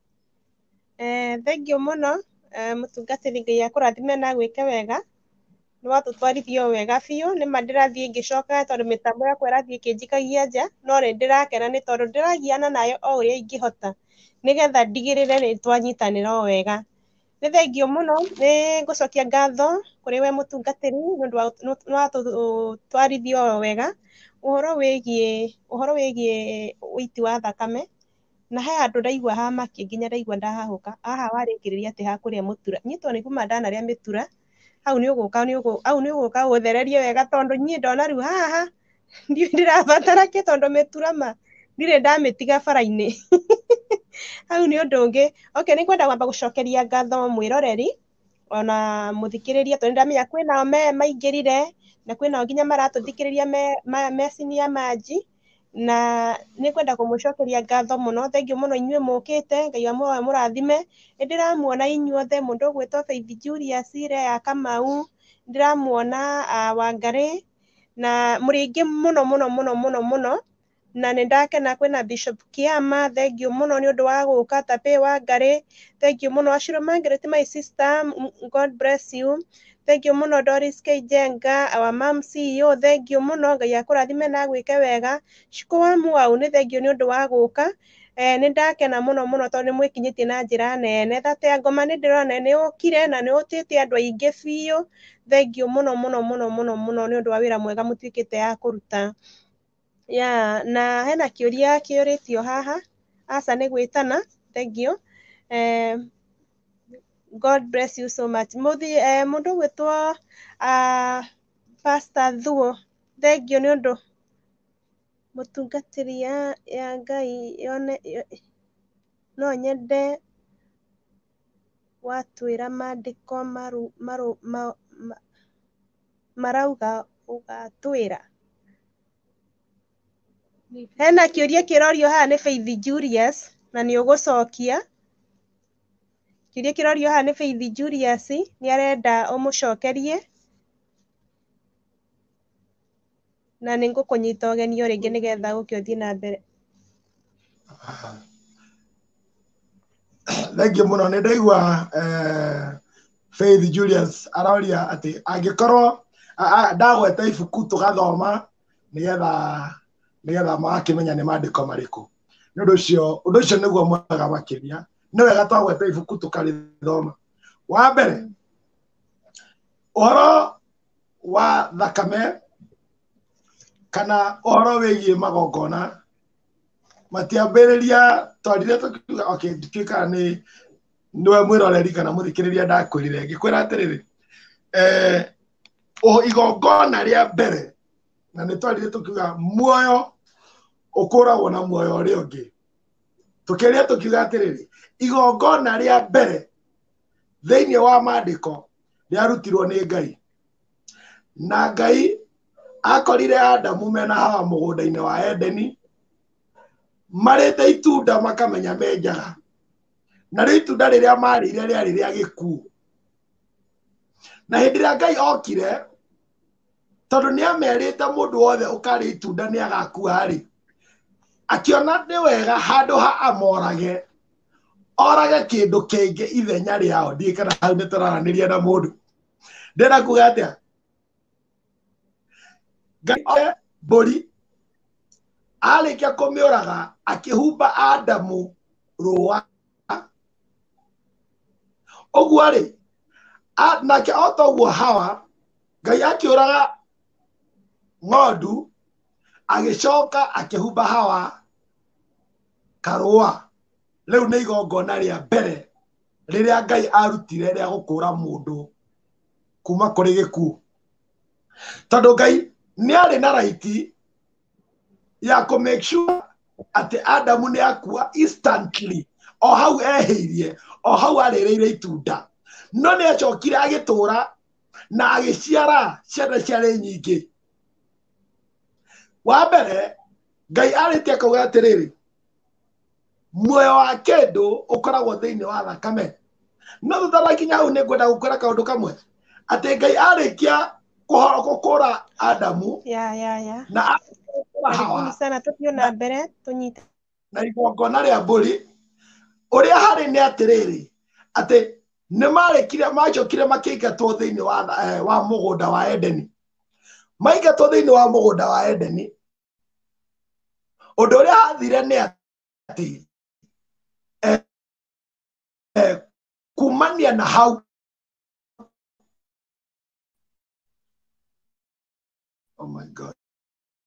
Speaker 1: Eh, thengiũ mũno eh, mũtungatĩri Ngai akũrathime na gwĩke wega nĩ watũtwarithio wega biũ nĩ ma ndĩrathiĩ ngĩcokaga tondũ mĩtambo yakwa ĩrathiĩ ĩkĩnjikagia nja no nĩ ndĩrakena nĩ tondũ ndĩragiana nayo o ũrĩa ingĩhota nĩgetha ndigĩrĩre nĩ twanyitanĩra o wega nĩ thengiũ mũno nĩ ngũcokia ngatho kũrĩ we mũtungatĩri nĩ ũndũ wa nĩ watũtwarithio wega ũhoro wĩgiĩ ũhoro wĩgiĩ ũiti wa thakame Na he handũ ndaigua ha makĩ nginya ndaigua ndahahũka, aah warĩkĩrĩria atĩ ha kũrĩa mũtura, niĩ tondũ nĩ kuma ndanarĩa mĩtura, hau nĩ ũgũka nĩ ũgũ hau nĩ ũgũka ũthererie wega tondũ niĩ ndona rĩu haha ndiũĩ ndĩrabatara kĩ tondũ mĩtura ma ndirĩ ndamĩtiga bara-inĩ. Hau nĩ ũndũ ũngĩ, okay nĩ ngwenda kwamba gũcokeria ngatho mwĩroreri ona mũthikĩrĩria tondũ nĩ ndĩramenya kwĩnao me maingĩrire na kwĩnao nginya maratũthikĩrĩria me me senior manji, na nĩ ngwenda kũmũcokeria ngatho mũno. Thengiũ mũno inyuĩ mũkĩte, Ngai wa muoyo amũrathime. Nĩ ndĩramuona inyuothe, mũndũ ũgwĩtwo Faith Julius, Leah Kamau, nĩ ndĩramuona Wangarĩ, na mũrĩ aingĩ mũno mũno mũno mũno mũno, na nĩ ndakena kwĩna Bishop Kĩama, thengiũ mũno nĩ ũndũ wa gũka, Tabie Wangarĩ, thengiũ mũno. Ashirũ Margaret my sister, God bless you. Thengiũ mũno Doris K. Njenga, our mom CEO, thengiũ mũno, Ngai akũrathime na agwĩke wega. Shiko wa Mwau, nĩ thengiũ nĩ ũndũ wa gũka, eh, nĩ ndakena mũno mũno tondũ nĩ mwĩkinyĩtie na njĩra nene. Thate ya Ngoma nĩ ndĩrona nĩ nĩ ũkire na nĩ ũtĩte andũ aingĩ biũ, thengiũ mũno mũno mũno mũno mũno nĩ ũndũ wa wĩra mwega mũtuĩkĩte a kũruta. Yeah, na hena kĩũria kĩũrĩtio haha. Aca nĩ gwĩtana, thengiũ. Eh, God bless you so much. Mũthi, eh, mũndũ ũgwĩtwo uh, Pastor Thuo, thengiũ nĩ ũndũ mũtungatĩri ya, ya Ngai yone, yo- no nyende watwĩra mandĩko marũ marũ ma ma marauga ũgatwĩra. Hena kĩũria kĩrorio haha nĩ Faith Julius, na nĩ ũgũcokia, kĩũria kĩrorio haha nĩ Faith Julius, nĩ arenda ũmũcokerie. Na nĩ ngũkũnyita ũgeni o rĩngĩ nĩ getha ũũke ũthiĩ na mbere. Thengiũ mũno nĩ ndaigua eh, Faith Julius aroria atĩ angĩkorwo a- a- ndagweta ibuku tũgathoma nĩgetha nĩgetha magakĩmenya nĩ maandĩko marĩkũ nĩ ũndũ ũcio ũndũ ũcio nĩguo mwega makĩria nĩ wega twagweta ibuku tũkarĩthoma wa mbere ũhoro wa thakame kana ũhoro wĩgiĩ magongona matiambĩrĩria twarire tũkiuga okay ndituĩkaga nĩ nĩwe mwĩroreri kana mũthikĩrĩria ndakwĩrire ngĩkwĩra atĩrĩrĩ eh, o igongona rĩa mbere na nĩ twarire tũkiuga muoyo ũkũragwo na muoyo ũrĩa ũngĩ tũkĩrĩa tũkiuga atĩrĩrĩ igongona rĩa mbere thĩinĩ wa maandĩko nĩ arutirwo nĩ ngai na ngai akorire adamu mena hawa mũgũnda-inĩ wa edeni marĩte itunda makamenya me njara narĩo itunda rĩrĩa marĩire rĩarĩ rĩa gĩkuũ na hĩndĩ ĩrĩa ngai okire tondũ nĩ amerĩte mũndũ wothe ũkarĩ itunda nĩ agakua-rĩ akĩona nĩ wega handũ ha amorage orage kĩndũ kĩngĩ ithenya rĩao ndiĩ kana hau nĩ tũraranĩria na mũndũ ndĩna kuga atĩa ngai oe mbũri arĩkia kũmĩũraga akĩhumba adamu rũa ũguo-rĩ nake o toguo hawa ngai akĩũraga ng'ondu agĩcoka akĩhumba hawa karũa rĩu nĩ igongona rĩa mbere rĩrĩa ngai arutire rĩa gũkũra mũndũ kuma kũrĩ gĩkuũ tondũ ngai nĩ arĩ na raiti ya kũ make sure atĩ adamu nĩ akua instantly o hau ehĩirie o hau arĩrĩire itunda no nĩ acokire agĩtũra na agĩciara ciana ciarĩ nyingĩ wa mbere ngai arĩtie akauga atĩrĩrĩ muoyo wa kĩndũ ũkoragwo thĩinĩ wa thakame no tutarakinya hau nĩ ngwenda gũkwĩra kaũndũ kamwe atĩ ngai arĩkia kũhora adamu na arĩkia kũhora hawa tũthiĩ na mbere tũnyite na igongona rĩa mbũri ũrĩa harĩ nĩ atĩrĩrĩ atĩ nĩ marĩkire macokire makĩingatwo thĩinĩ wa, eh, wa mũgũnda wa edeni maingatwo thĩinĩ wa mũgũnda wa edeni ũndũ ũrĩa hathire nĩ atĩ eh, eh, kumania na hau oh my god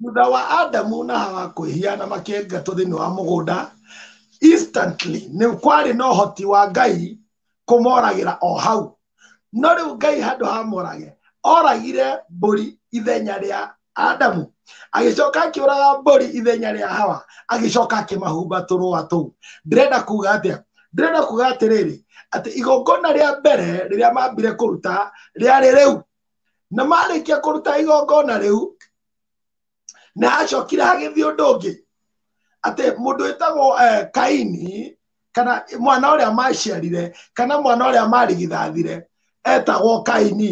Speaker 1: thutha wa adamu na hawa kwĩhiana makĩengatwo thĩinĩ wa mũgũnda instantly nĩ kwarĩ na ũhoti wa ngai kũmoragĩra o hau no rĩu ngai handũ hamorage oragire mbũri ithenya rĩa adamu agĩcoka akĩũraga mbũri ithenya rĩa hawa agĩcoka akĩmahumba tũrũa tũu ndĩrenda kuga atĩa ndĩrenda kuga atĩrĩrĩ atĩ igongona rĩa mbere rĩrĩa mambire kũruta rĩarĩ rĩu na marĩkia kũruta igongona rĩu na acokire hagĩthiĩ ũndũ ũngĩ atĩ mũndũ wĩtagwo eh, kaini kana mwana ũrĩa maciarire kana mwana ũrĩa marigithathire etagwo kaini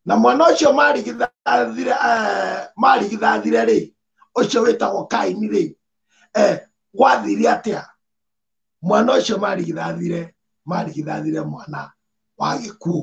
Speaker 1: na mwana ũcio marigithathire eh, marigithathire rĩ ũcio wĩtagwo kaini rĩ eh, gwathire atĩa mwana ũcio marigithathire marigithathire mwana wa gĩkuũ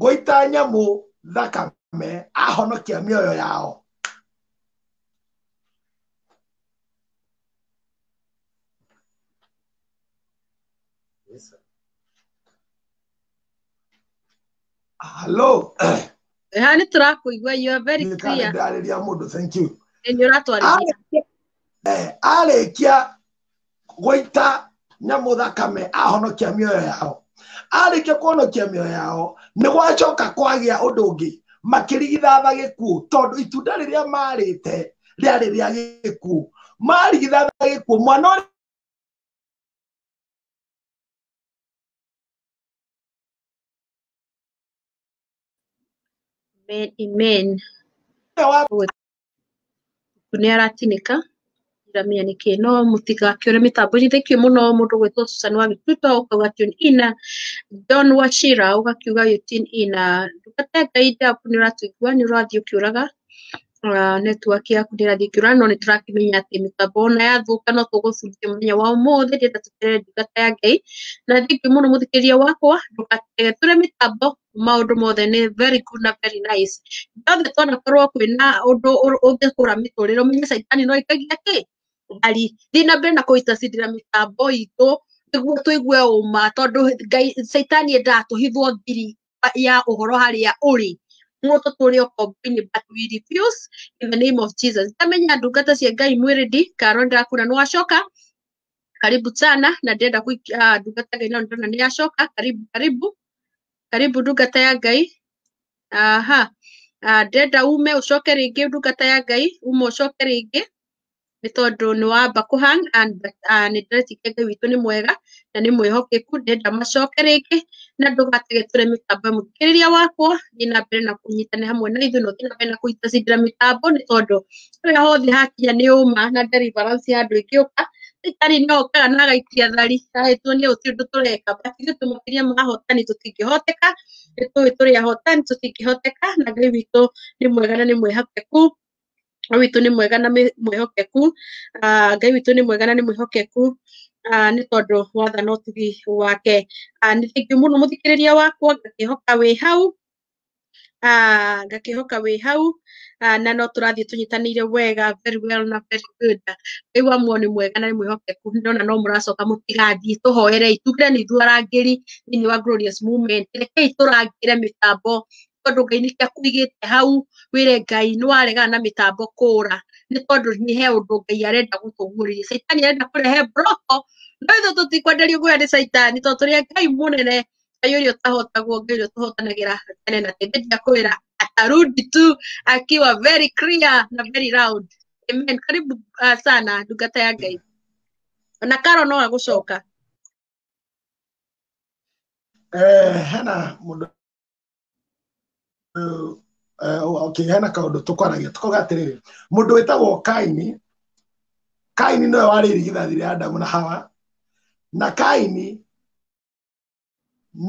Speaker 1: gũita nyamũ thakame ahonokia mĩoyo yao halo ha nĩ tũrakũigua you are very nĩ clear ndarĩria mũndũ thank you nĩ ũratwarithia arĩkia gũita nyamũ thakame ahonokia mĩoyo yao arĩkia kũhonokia mĩoyo yao nĩ gwacoka kwagĩa ũndũ ũngĩ makĩrigithatha gĩkuũ tondũ itunda rĩrĩa marĩte rĩarĩ rĩa gĩkuũ marigithatha gĩkuũ mwana ũrĩa Amen. Amen. wa Ũguo nĩ aratinĩka ndiramenya nĩkĩ no mũtigakĩũre mĩtambo-inĩ thengiũ mũno mũndũ gwĩtwo Susan wa Gĩtuto ũkauga tune in John Wachira ũgakiuga you tune in ndungata ya Ngai ndaku nĩ ũratũigua nĩ ũrathiĩ ũkĩũraga network yaku nĩ ĩrathiĩ ĩkĩũraga no nĩ tũrakĩmenya atĩ mĩtambo ona yathũka no tũgũbunjia mũthenya wa ũmũthĩ ndĩrenda tũtere ndungata ya Ngai na thengiũ mũno mũthikĩrĩria wakwa ndũgatege tũre mĩtambo maũndũ mothe nĩ very good na very nice ithuothe twanakorwo kwĩna ũndũ ũ- ũngĩkũra mĩtũrĩre ũmenye caitani no aikagia kĩ ngari thiĩ na mbere na kũitacindĩra mĩtambo itũ nĩguo tũigue ũma tondũ ngai caitani endaga tũhithwo thiri ya ũhoro harĩa ũrĩ nĩguo tũtũre ũkombo-inĩ but we refuse in the name of jesus ndamenya ndungata cia ngai mwĩrĩ ndi karo ndakuna nĩwacoka karibu sana na ndĩrenda kũikia ndungata ngai no ndĩrona nĩ yacoka karibu karibu karibu ndungata ya ngai aha Ah, ndĩrenda ume ũcoke rĩngĩ ndungata ya ngai ume ũcoke rĩngĩ nĩ tondũ nĩ wamba kũhang and ah, nĩ ndĩretikia ngai witũ nĩ mwega na nĩ mwĩhokeku ndĩrenda macoke rĩngĩ na ndũgatige tũre mĩtambo ya mũthikĩrĩria wakwa thiĩ na mbere na kũnyitana hamwe na ithuĩ na ũthiĩ na mbere na kũnyitacindĩra mĩtambo nĩ tondũ ũrĩa hothe hakinya nĩ ũma na deliverance ya andũ ĩngĩ ũka thirikari no ũkaga na agaikia thari ahĩtwo nĩ ũcio ũndũ tũreka basi ithuĩ tũmũkiria mahotani tũtingĩhoteka nĩ tũĩ tũrĩ ahotani tũtingĩhoteka na ngai witũ nĩ mwega na nĩ mwĩhokeku Ngai witũ nĩ mwega na mĩ- mwĩhokeku Ah, ngai witũ nĩ mwega na nĩ mwĩhokeku Ah, nĩ tondũ watha no tugi wake Ah, nĩ thengiũ mũno mũthikĩrĩria wakwa ngakĩhoka wĩ hau Ah, ngakihoka wĩ hau Ah, na no tũrathiĩ tũnyitanĩire wega very well na very good rĩu amuo nĩ mwega na nĩ mwĩhokeku ndona no mũracoka mũtigathiĩ tũhoerei tuge nĩ ithuĩ arangĩri thĩinĩ wa glorious movement rekei tũrangĩre mĩtambo tondũ ngai nĩkĩo akũigĩte hau wĩre ngai nĩ waregana na mĩtambo kũra nĩ tondũ nĩ he ũndũ ngai arenda gũtũguũrĩria caitani arenda kũrehe mbroko no ithuĩ tũtikwenderio guoya nĩ caitani tondũ tũrĩ a ngai mũnene Ngai ũrĩa ũtahotagwo Ngai ũrĩa ũtũhotanagĩra tene na tene ndeja kwĩra atarudi tu akiwa very clear na very loud amen karibu uh, sana ndungata ya Ngai ona Karo no agũcoka Eh, hena mũndũ eh, okay, hena kaũndũ tũkwaragia tũkoga atĩrĩrĩ mũndũ wĩtagwo kaini kaini nĩwe warĩ irigithathi rĩa adamu na hawa na kaini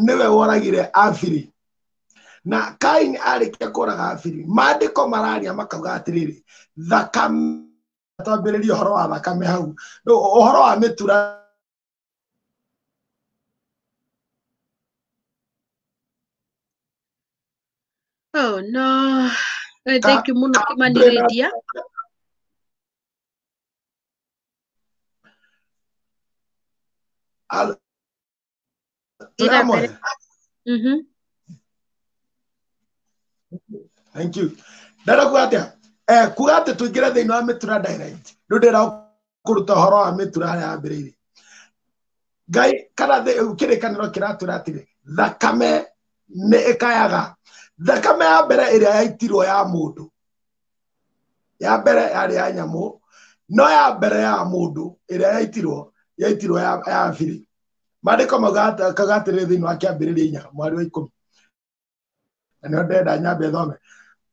Speaker 1: nĩwe woragire abiri na kaini arĩkia kũraga abiri maandĩko mararia makauga atĩrĩrĩ thakame twambĩrĩria ũhoro wa thakame hau Rĩu ũhoro wa mĩtura Oh, no. Eh, Ka- Thank you mũno ka- kũmanirĩria. Al- Tramway. Mhm. Thank you. Ndarakuga atĩa? Eh, kuga atĩ tũingĩre thĩinĩ wa mĩtura direct. Rĩu ndĩra kũruta ũhoro wa mĩtura harĩa yambĩrĩirie. Ngai kana thĩ- kĩrĩkanĩro kĩratwĩra atĩrĩ, thakame nĩ ĩkayaga. Thakame ya mbere ĩrĩa yaitirwo ya mũndũ ya mbere yarĩ ya nyamũ no ya mbere ya mũndũ ĩrĩa yaitirwo yaitirwo ya ya biri maandĩko magakaga atĩrĩ thĩinĩ wa kĩambĩrĩria inya mweri wa ikũmi na nĩo ndenda nyambe thome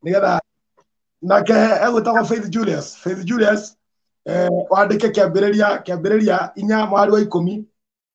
Speaker 1: nĩgetha nake egwĩtagwo faith julius faith julius eh, wandĩke kĩambĩrĩria kĩambĩrĩria inya mweri wa ikũmi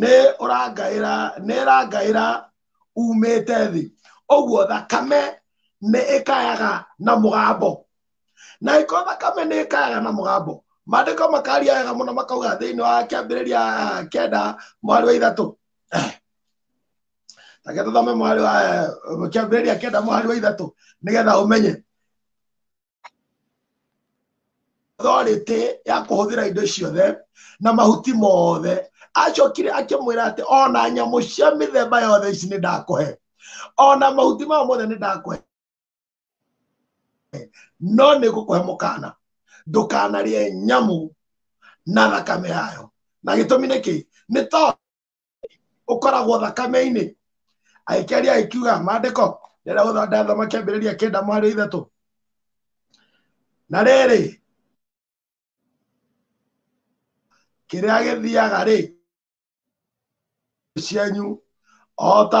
Speaker 1: nĩ ũrangaĩra nĩ ĩrangaĩra umĩte thĩ ũguo thakame nĩ ĩkayaga na mũgambo na ĩko thakame nĩ ĩkayaga na mũgambo maandĩko makaria wega mũno makauga thĩinĩ wa kĩambĩrĩria kenda mwarĩ wa ithatũ take tũthome mwarĩ wa kĩambĩrĩria kenda mwarĩ wa ithatũ nĩgetha ũmenye authority ya kuhuthira indo ciothe na mahuti mothe acokire akimwira ati ona nyamu cia mithemba yothe ici ni ndakuhe ona mahuti maya mothe ni ndakuhe no nä gå kå he må kana ndå kanarie nyamu na thakame yayo na gä tå mi nä kä nä tondå ũkoragwo thakame-inĩ agĩkĩaria agĩkiuga maandĩko rĩrĩa gũthanda thoma kĩambĩrĩria kenda mwarĩ ithatũ na rĩrĩ kĩrĩa gĩthiaga rĩ cianyu o ta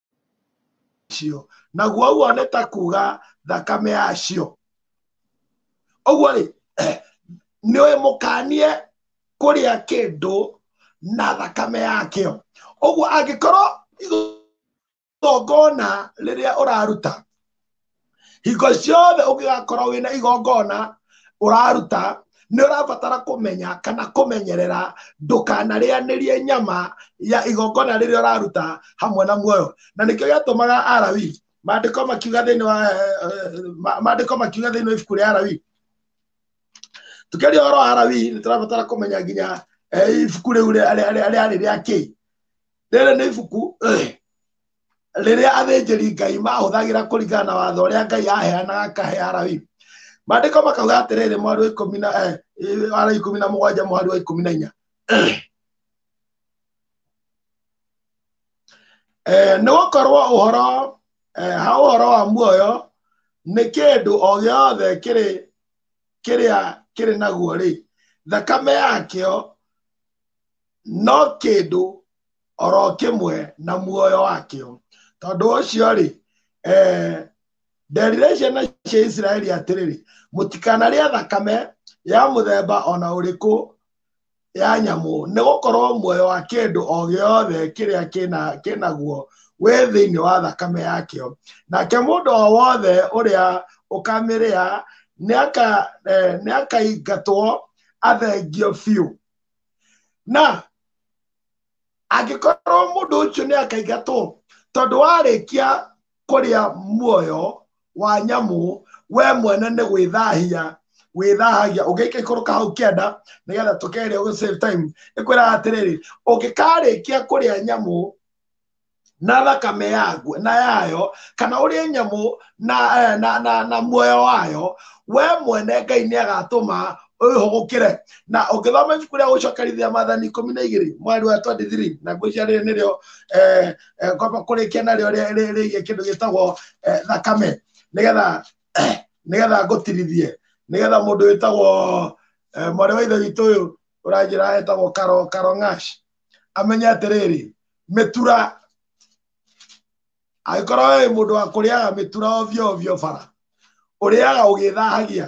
Speaker 1: cio naguo ũguo nĩ ta kuga thakame yacio ũguo rĩ nĩ ũĩ mũkanie kũrĩa kĩndũ na thakame yakĩo ũguo angĩkorwo igongona rĩrĩa ũraruta hingo ciothe ũngĩgakorwo wĩna igongona ũraruta nĩ ũrabatara kũmenya kana kũmenyerera ndũkanarĩanĩrie nyama ya igongona rĩrĩa ũraruta hamwe na muoyo na nĩkĩo gĩatũmaga arawi maandĩko makiuga thĩinĩ wa maandĩko makiuga thĩinĩ wa ibuku rĩa arawi tũkĩria ũhoro wa arawi nĩ tũrabatara kũmenya nginya ibuku rĩu rĩarĩ rĩa kĩĩ rĩrĩ nĩ ibuku rĩrĩa athĩnjĩri ngai mahũthagĩra kũringana na watho ũrĩa ngai aheanaga akahe arawi maandĩko makauga atĩrĩrĩ mweri wa ikũmi na eh, eh, wa ikũmi na mũgwanja mweri wa ikũmi na inya Eh, nĩ gũkorwo ũhoro eh, ha ũhoro wa muoyo nĩ kĩndũ o gĩothe kĩrĩ kĩrĩa kĩrĩ naguo rĩ thakame yakĩo no kĩndũ oro kimwe na muoyo wakio tondu ucio ri eh, nderire ciana cia isiraeli atiriri mutikanaria thakame ya muthemba ona uriku ya nyamu nĩ gũkorwo muoyo wa kĩndũ o gĩothe kĩrĩa kĩna kĩnaguo wĩ thĩinĩ wa thakame yakĩo nake mũndũ o wothe ũrĩa ũkamĩrĩa nĩaka- eh, nĩakaingatwo athengio biũ na angĩkorwo mũndũ ũcio nĩ akaingatwo tondũ warĩkia kũrĩa muoyo wa nyamũ we mwene nĩ gwĩthahia wĩthahagia ũngĩka ikũrũ kahau kĩanda nĩgetha tũkeria ũgũ save time ĩkwĩraga atĩrĩrĩ ũngĩkarĩkia kũrĩa nyamũ na thakame yaguo na yayo kana ũrĩe nyamũ na, eh, na, na, na muoyo wayo we mwene ngai nĩ agatũma ũhũgũkĩre na ũngĩthoma ibuku rĩa gũcokerithia mathani ikũmi na igĩrĩ mweri wa 23 na ngwĩcia rĩrĩ nĩrĩo eh, eh, ngomba kũrĩkia narĩo rĩ- rĩ- rĩgiĩ kĩndũ gĩtagwo eh, thakame nĩgetha nĩgetha ngũtirithie nĩgetha mũndũ wĩtagwo eh, mwarĩ wa ithe witũ ũyũ ũranjĩra etagwo karo karo ngash amenye atĩrĩrĩ mĩtura angĩkorwo wĩ mũndũ wa kũrĩaga mĩtura ovyo ovyo bara ũrĩaga ũgĩthahagia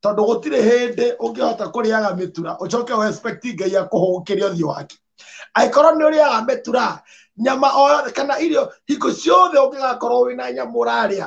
Speaker 1: tondũ gũtirĩ hĩndĩ ũngĩhota kũrĩaga mĩtura ũcoke ũ expect ngai akũhũgũkĩre ũthiũ wake angĩkorwo nĩ ũrĩaga mĩtura nyama o yothe kana irio hingo ciothe ũngĩgakorwo wĩna nyama ũrarĩa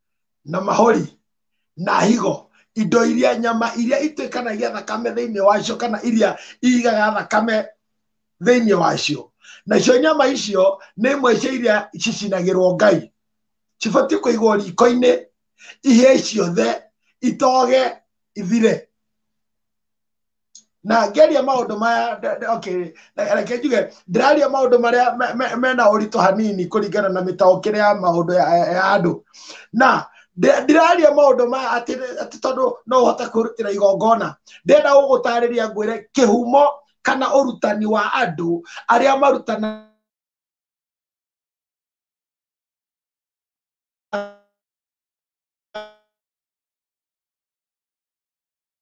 Speaker 1: na mahori na higo indo iria nyama iria ituĩkanagia thakame thĩinĩ wacio kana iria igaga thakame thĩinĩ wacio nacio nyama icio nĩ imwe cia iria cicinagĩrwo ngai cibatiĩ kũigwo riko-inĩ ihĩe ciothe itoge ithire na ngeria maundu maya nda- nda- okay na- reke njuge ndĩraria maundu maria me- me- mena ũritũ hanini kũringana na mĩtaũkĩre ya maundu ya ya- ya andũ na ndĩ- ndĩraria maundu maya atĩ atĩ tondũ no ũhote kwĩrutĩra igongona ndĩrenda gũgũtarĩria ngwĩre kĩhumo kana ũrutani wa andũ arĩa marutana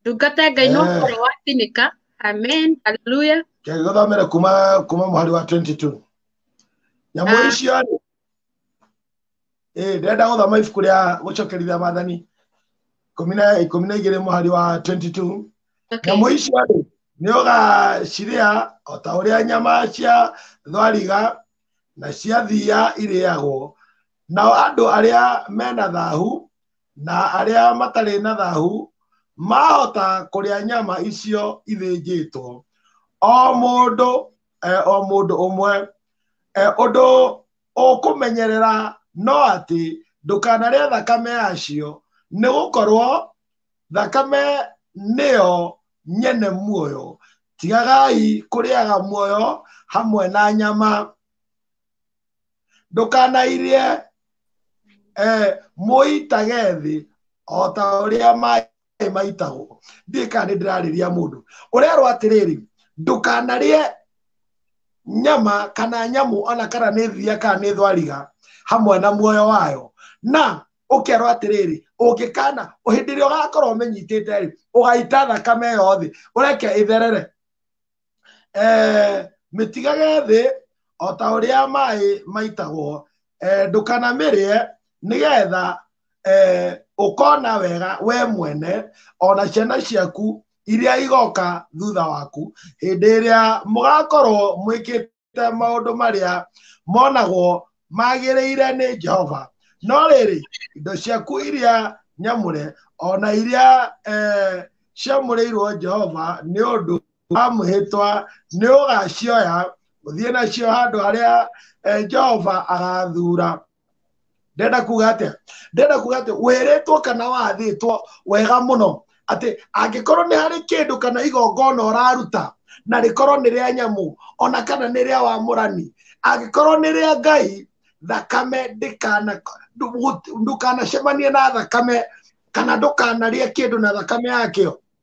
Speaker 1: ndungata ya ngai no Eh. ũhoro wa thinĩka amen haleluya kegithomere kuma kuma mũhari wa 22 nyamũ Ah. icio rĩ ĩĩ ndĩrenda gũthoma ibuku rĩa gũcokerithia maathani ikũmi na ikũmi na igĩrĩ mũhari wa 22 okay. nyamũ icio rĩ nĩ ũgacirĩa o ta ũrĩa nyama cia thwariga na cia thiia irĩagwo nao andũ arĩa mena thahu na arĩa matarĩ na thahu mahota kũrĩa nyama icio ithĩnjĩtwo o mũndũ eh, o mũndũ ũmwe eh, ũndũ ũkũmenyerera no atĩ ndũkanarĩa thakame yacio nĩ gũkorwo thakame nĩyo nyene muoyo tigagai kũrĩaga muoyo hamwe na nyama ndũkanairie eh, mũitage thĩ o ta ũrĩa maĩ maitagwo ndiĩ kana nĩ ndĩrarĩria mũndũ ũrerwo atĩrĩrĩ ndũkanarĩe nyama kana nyamũ ona kana nĩ thiria kana nĩ thwariga hamwe na muoyo wayo na ũkerwo atĩrĩrĩ ũngĩkana hĩndĩ ĩrĩa ũgakorwo ũmĩnyitĩte rĩ ũgaita thakame ĩyo thĩ ũreke ĩtherere eh, mĩtigage thĩ o ta ũrĩa maĩ maitagwo eh, ndũkanamĩrĩe nĩgetha eh, ũkona wega we mwene ona ciana ciaku iria igoka thutha waku hĩndĩ ĩrĩa mũgakorwo mwĩkĩte ta maũndũ marĩa monagwo magĩrĩire nĩ jehova no rĩrĩ indo ciaku iria nyamũre o na iria eh, ciamũrĩirwo jehova nĩ ũndũ wa mwĩhĩtwa nĩ ũgacioya ũthiĩ nacio handũ harĩa eh, jehova agathura ndenda kuga atä ndenda kuga atä wĩrĩtwo kana wathĩtwo wega mũno atä angĩkorwo nĩ harĩ kĩndũ kana igongona ũraruta na rĩkorwo nĩ rĩa nyamũ ona kana nĩ rĩa wamũrani angĩkorwo nĩ rĩa ngai thakame ndĩkana- ndũ- ndũkanacemanie na thakame kana ndũkanarĩe kĩndũ na thakame yakĩo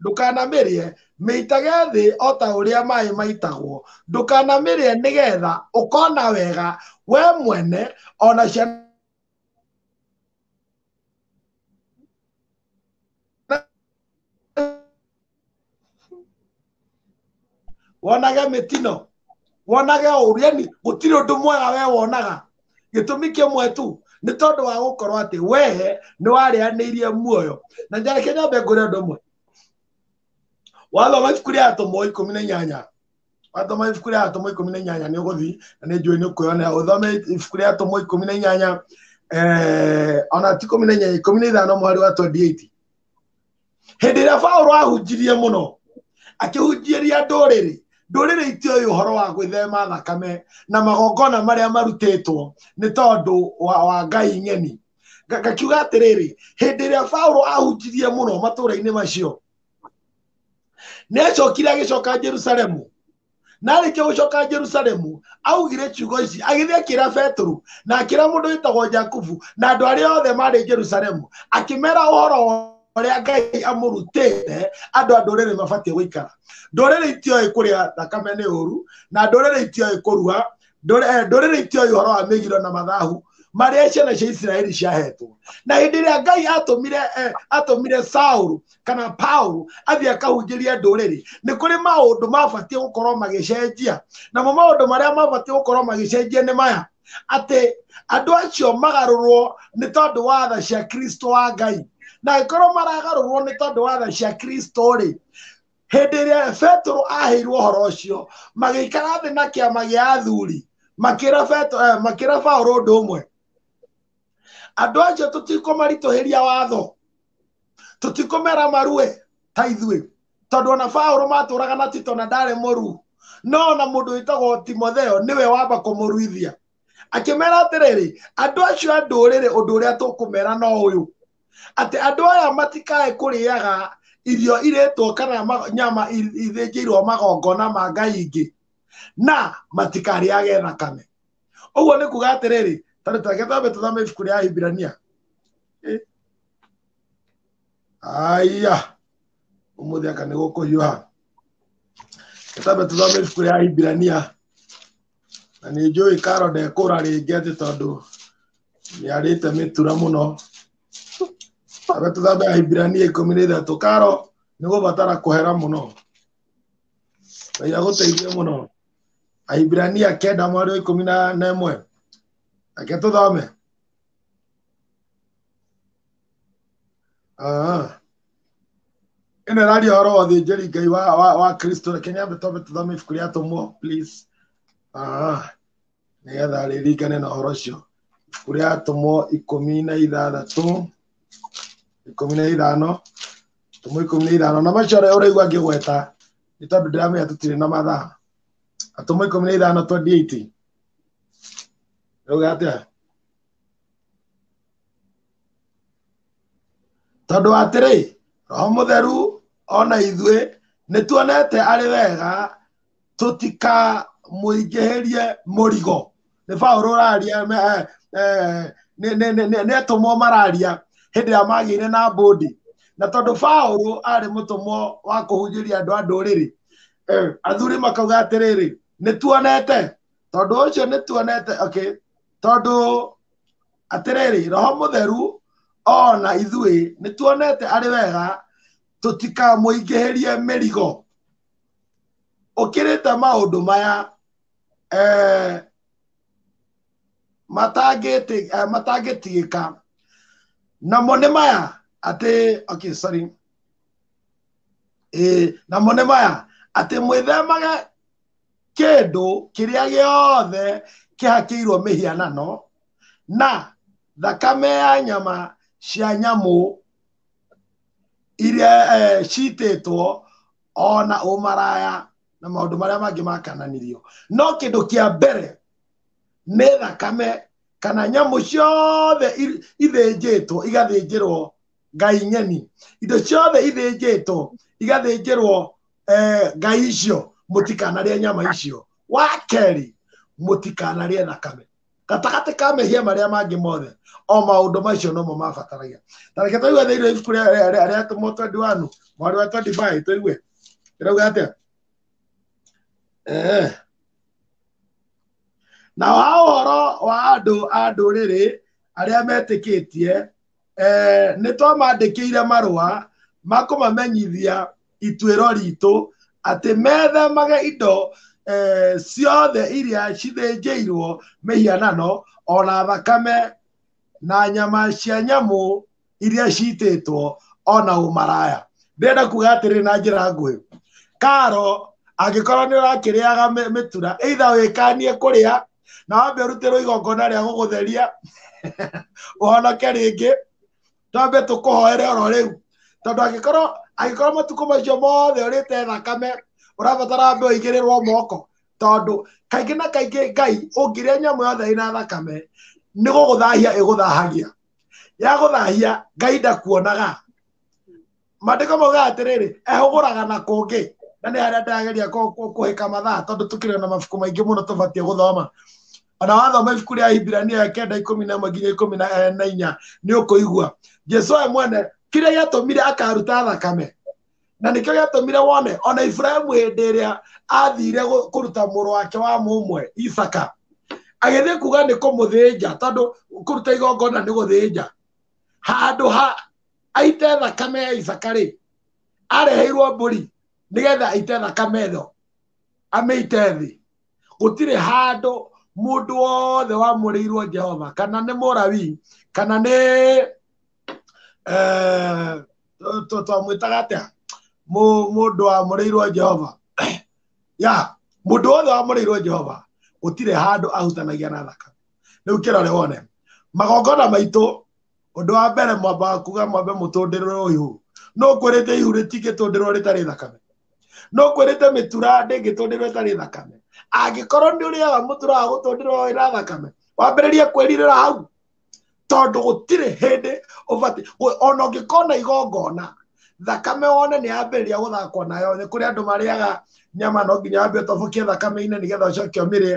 Speaker 1: ndũkanamĩrĩe mĩitage thĩ o ta ũrĩa maĩ maitagwo ndũkanamĩrĩe nĩgetha ũkona wega we mwene ona ciana wonage mĩtino wonage ũru yani gũtirĩ ũndũ mwega we wonaga gĩtũmi kĩmwe tu nĩ tondũ wa gũkorwo atĩ we nĩ warĩanĩirie muoyo na njareke nyambe ngũrĩ ũndũ ũmwe wathoma ibuku rĩa atũmwo ikũmi na inyanya wathoma ibuku rĩa atũmwo ikũmi na inyanya nĩ ũgũthiĩ na nĩ njũĩ nĩ ũkwĩyonera ũthome ibuku rĩa atũmwo ikũmi na inyanya eh, ona ti ikũmi na inyanya ikũmi na ithano mweri wa 28 hĩndĩ ĩrĩa paũlũ ahunjirie mũno akĩhunjieria ndũrĩrĩ ndũrĩrĩ itioĩ ũhoro wa gwĩthema thakame na magongona marĩa marutĩtwo nĩ tondũ wa, wa ngai ng'eni Nga- ngakiuga atĩrĩrĩ hĩndĩ ĩrĩa paũlũ ahunjirie mũno matũũra-inĩ macio nĩ acokire agĩcoka jerusalemu na arĩkia gũcoka jerusalemu augire ciugo ici agĩthiĩ akĩra petero na akĩra mũndũ wĩtagwo jakubu na andũ arĩa othe marĩ jerusalemu akĩmera ũhoro ũrĩa ngai amũrutĩte andũ a ndũrĩrĩ mabatiĩ gũikara ndũrĩrĩ itioĩ kũrĩa thakame nĩ ũru na ndũrĩrĩ itioĩ kũrua ndũrĩrĩ eh, itioĩ ũhoro wa mĩgiro na mathahu marĩa ciana cia isiraeli ciahetwo na hĩndĩ ĩrĩa ngai atũmire eh, atũmire saulu kana paulu athiĩ akahunjĩrie ndũrĩrĩ nĩ kũrĩ maũndũ mabatiĩ gũkorwo magĩcenjia namo maũndũ marĩa mabatiĩ gũkorwo magĩcenjia nĩ maya atĩ andũ acio magarũrwo nĩ tondũ wa tha cia kristo wa ngai na angĩkorwo maragarũrwo nĩ tondũ wa tha cia kristo rĩ hĩndĩ ĩrĩa petero aheirwo ũhoro ũcio magĩikara thĩ na kĩama gĩa athuri makĩra Petero- eh, makĩra paũlũ ũndũ ũmwe andũ acio tũtikũmaritũhĩria watho tũtikũmera marue ta ithuĩ tondũ ona paũlũ matũraga na tito na ndarĩ mũru no ona mũndũ wĩtagwo timotheo nĩwe wamba kũmũruithia akĩmera atĩrĩrĩ andũ acio a ndũrĩrĩ ũndũ ũrĩa tũkũmera no ũyũ atĩ andũ aya matikae kũrĩaga irio irĩtwo kana ma- nyama i- ithĩnjĩirwo magongona ma ngai ingĩ na matikarĩage thakame ũguo nĩ kuga atĩrĩrĩ tarĩ tareke twambe tũthame ibuku rĩa ahibirania Eh. aya ũmũthĩ aka nĩ gũkũhiũha twambe tũthame ibuku rĩa ahibirania na nĩ njũĩ karo ndekũra rĩngĩ atĩ tondũ nĩ arĩte mĩtura mũno abe tũthambe ahibirania ikũmi na ithatũ karo nĩ gũbatara kũhera mũno ngai agũteithie mũno ahibirania kenda mwarĩ wa ikũmi na na ĩmwe reke tũthome Ah. ĩno ĩraria ũhoro wa thĩnjĩri ngai wa wa wa kristo reke nyambe twambe tũthame ibuku rĩa atũmwo please Ah. nĩgetha rĩringane na ũhoro ũcio ibuku rĩa atũmwo ikũmi na ithathatũ ikũmi na ithano atũmwo ikũmi na ithano na macio ũrĩa ũraigua ngĩgweta nĩ tondũ ndĩramenya tũtirĩ na mathaa atũmwo ikũmi na ithano 28 rauga atĩa tondũ atĩrĩ roho mũtheru ona ithuĩ nĩ tuonete arĩ wega tũtikamũingĩhĩrie mũrigo nĩ baũrũ ũraria nĩ atũmwo mararia hĩndĩ ĩrĩa magĩire na mbũndi na tondũ baũrũ arĩ mũtũmwo wa kũhunjĩria andũ a ndũrĩrĩ athuri makauga atĩrĩrĩ nĩ tuonete tondũ ũcio nĩ tuonete okay tondũ atĩrĩrĩ roho mũtheru ona ithuĩ nĩ tuonete arĩ wega tũtikamũingĩhĩrie mĩrigo ũkĩrĩte maũndũ maya eh, matangĩti- eh, matangĩtigĩka namo nĩ maya atĩ okay, sorry Ĩĩ, namo nĩ maya atĩ mwĩthemage kĩndũ kĩrĩa gĩothe kĩhakĩirwo mĩhianano na thakame ya nyama cia nyamũ iria eh, citĩtwo o na ũmaraya na maũndũ marĩa mangĩ makananirio no kĩndũ kĩa mbere nĩ thakame kana nyamũ ciothe ithĩnjĩtwo igathĩnjĩrwo ngai ng'eni indo ciothe ithĩnjĩtwo igathĩnjĩrwo eh, ngai icio mũtikanarĩa nyama icio wa kerĩ mũtikanarĩa thakame gatagatĩ ka mehia marĩa mangĩ mothe o maũndũ macio nomo mabataragia na reke tũigue thĩinĩ wa ibuku rĩa- rĩa- rĩa- rĩa atũmwo 21 mwarĩ wa 25 tũigue ĩrauga atĩa Eh. na wa ũhoro wa andũ a ndũrĩrĩ arĩa metĩkĩtie eh, nĩ twamandĩkĩire marũa makũmamenyithia ituĩro ritũ atĩ methemage indo eh, ciothe iria cithĩnjĩirwo mĩhianano ona thakame na nyama cia nyamũ iria citĩtwo ona ũmaraya ndĩrenda kuga atĩrĩ na njĩra nguhĩ karo angĩkorwo nĩ ũrakĩrĩaga mĩ- mĩtura either wĩkanie kũrĩa na wambe ũrutĩrwo igongona rĩa gũgũtheria ũhonoke rĩngĩ twambe tũkũhoere oro rĩu tondũ angĩkorwo angĩkorwo matukũ macio mothe ũrĩte thakame ũrabatara mbe ũigĩrĩrwo moko tondũ kaingĩ na kaingĩ ngai ũngĩrĩa nyamũ yothe ĩna thakame nĩ gũgũthahia ĩgũthahagia yagũthahia ngai ndakuonaga mandĩko mauga atĩrĩrĩ ehũgũraga na kũngĩ na nĩ harĩa ndĩrageria kũ- kũ- kũhĩka mathaa tondũ tũkĩrĩ na mabuku maingĩ mũno tũbatiĩ gũthoma ona wathoma ibuku rĩa hibirania ya kenda ikũmi na ĩmwe nginya ikũmi na eh, na inya nĩ ũkũigua jesu we mwene kĩrĩa gĩatũmire akaruta thakame na nĩkĩo gĩatũmire wone ona iburahimu hĩndĩ ĩrĩa athire gũ- kũruta mũrũ wake wa mũmwe isaka agĩthiĩ kuga nĩ kũmũthĩnja tondũ kũruta igongona nĩ gũthĩnja handũ ha aite thakame ya isaka rĩ areheirwo mbũri nĩgetha aite thakame ĩno amĩite thĩ gũtirĩ handũ mũndũ wothe wamũrĩirwo jehova kana nĩ mũrawi kana nĩ eh, twamwĩtaga atĩa mũndũ wamũrĩirwo jehova ya mũndũ wothe wamũrĩirwo jehova gũtirĩ handũ ahutanagia na thakame rĩu kĩrore wone magongona maitũ ũndũ wa mbere mwambaga kuga mwambe mũtũndĩrwo ũyũ no kwĩrĩte ihu rĩtingĩtũndĩrwo rĩtarĩ thakame no kwĩrĩte mĩtura ndĩngĩtũndĩrwo ĩtarĩ thakame angĩkorwo nĩ ũrĩaga mũtura wa gũtũndĩrwo ĩna thakame wambĩrĩrie kwĩrirĩra hau tondũ gũtirĩ hĩndĩ ũbatiĩ ona ũngĩkona igongona thakame wone nĩ yambĩrĩria gũthakwo nayo nĩ kũrĩ andũ marĩaga nyama no nginya wambe ũtobokie thakame-inĩ nĩgetha ũcoke ũmĩrĩe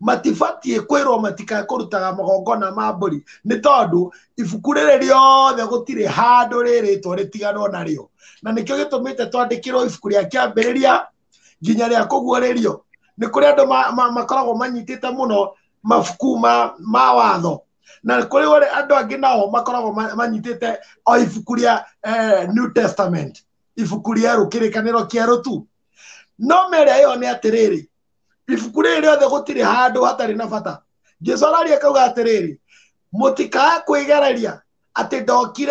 Speaker 1: matibatiĩ kwĩrwo matikae kũrutaga magongona ma mbũri nĩ tondũ ibuku rĩrĩ rĩothe gũtirĩ handũ rĩrĩtwo rĩtiganwo narĩo na nĩkĩo gĩtũmĩte twandĩkĩrwo ibuku rĩa kĩambĩrĩria nginya rĩa kũguũrĩrio nĩ kũrĩ andũ ma- ma- makoragwo manyitĩte mũno mabuku ma ma watho na nĩ kũrĩ wale- andũ angĩ nao makoragwo ma- manyitĩte o ibuku rĩa eh, new testament ibuku rĩerũ kĩrĩkanĩro kĩerũ tu no merĩa ĩyo nĩ atĩrĩrĩ ibuku rĩrĩ rĩothe gũtirĩ handũ hatarĩ na bata jesu araria kauga atĩrĩrĩ mũtikae kwĩgereria atĩ ndokire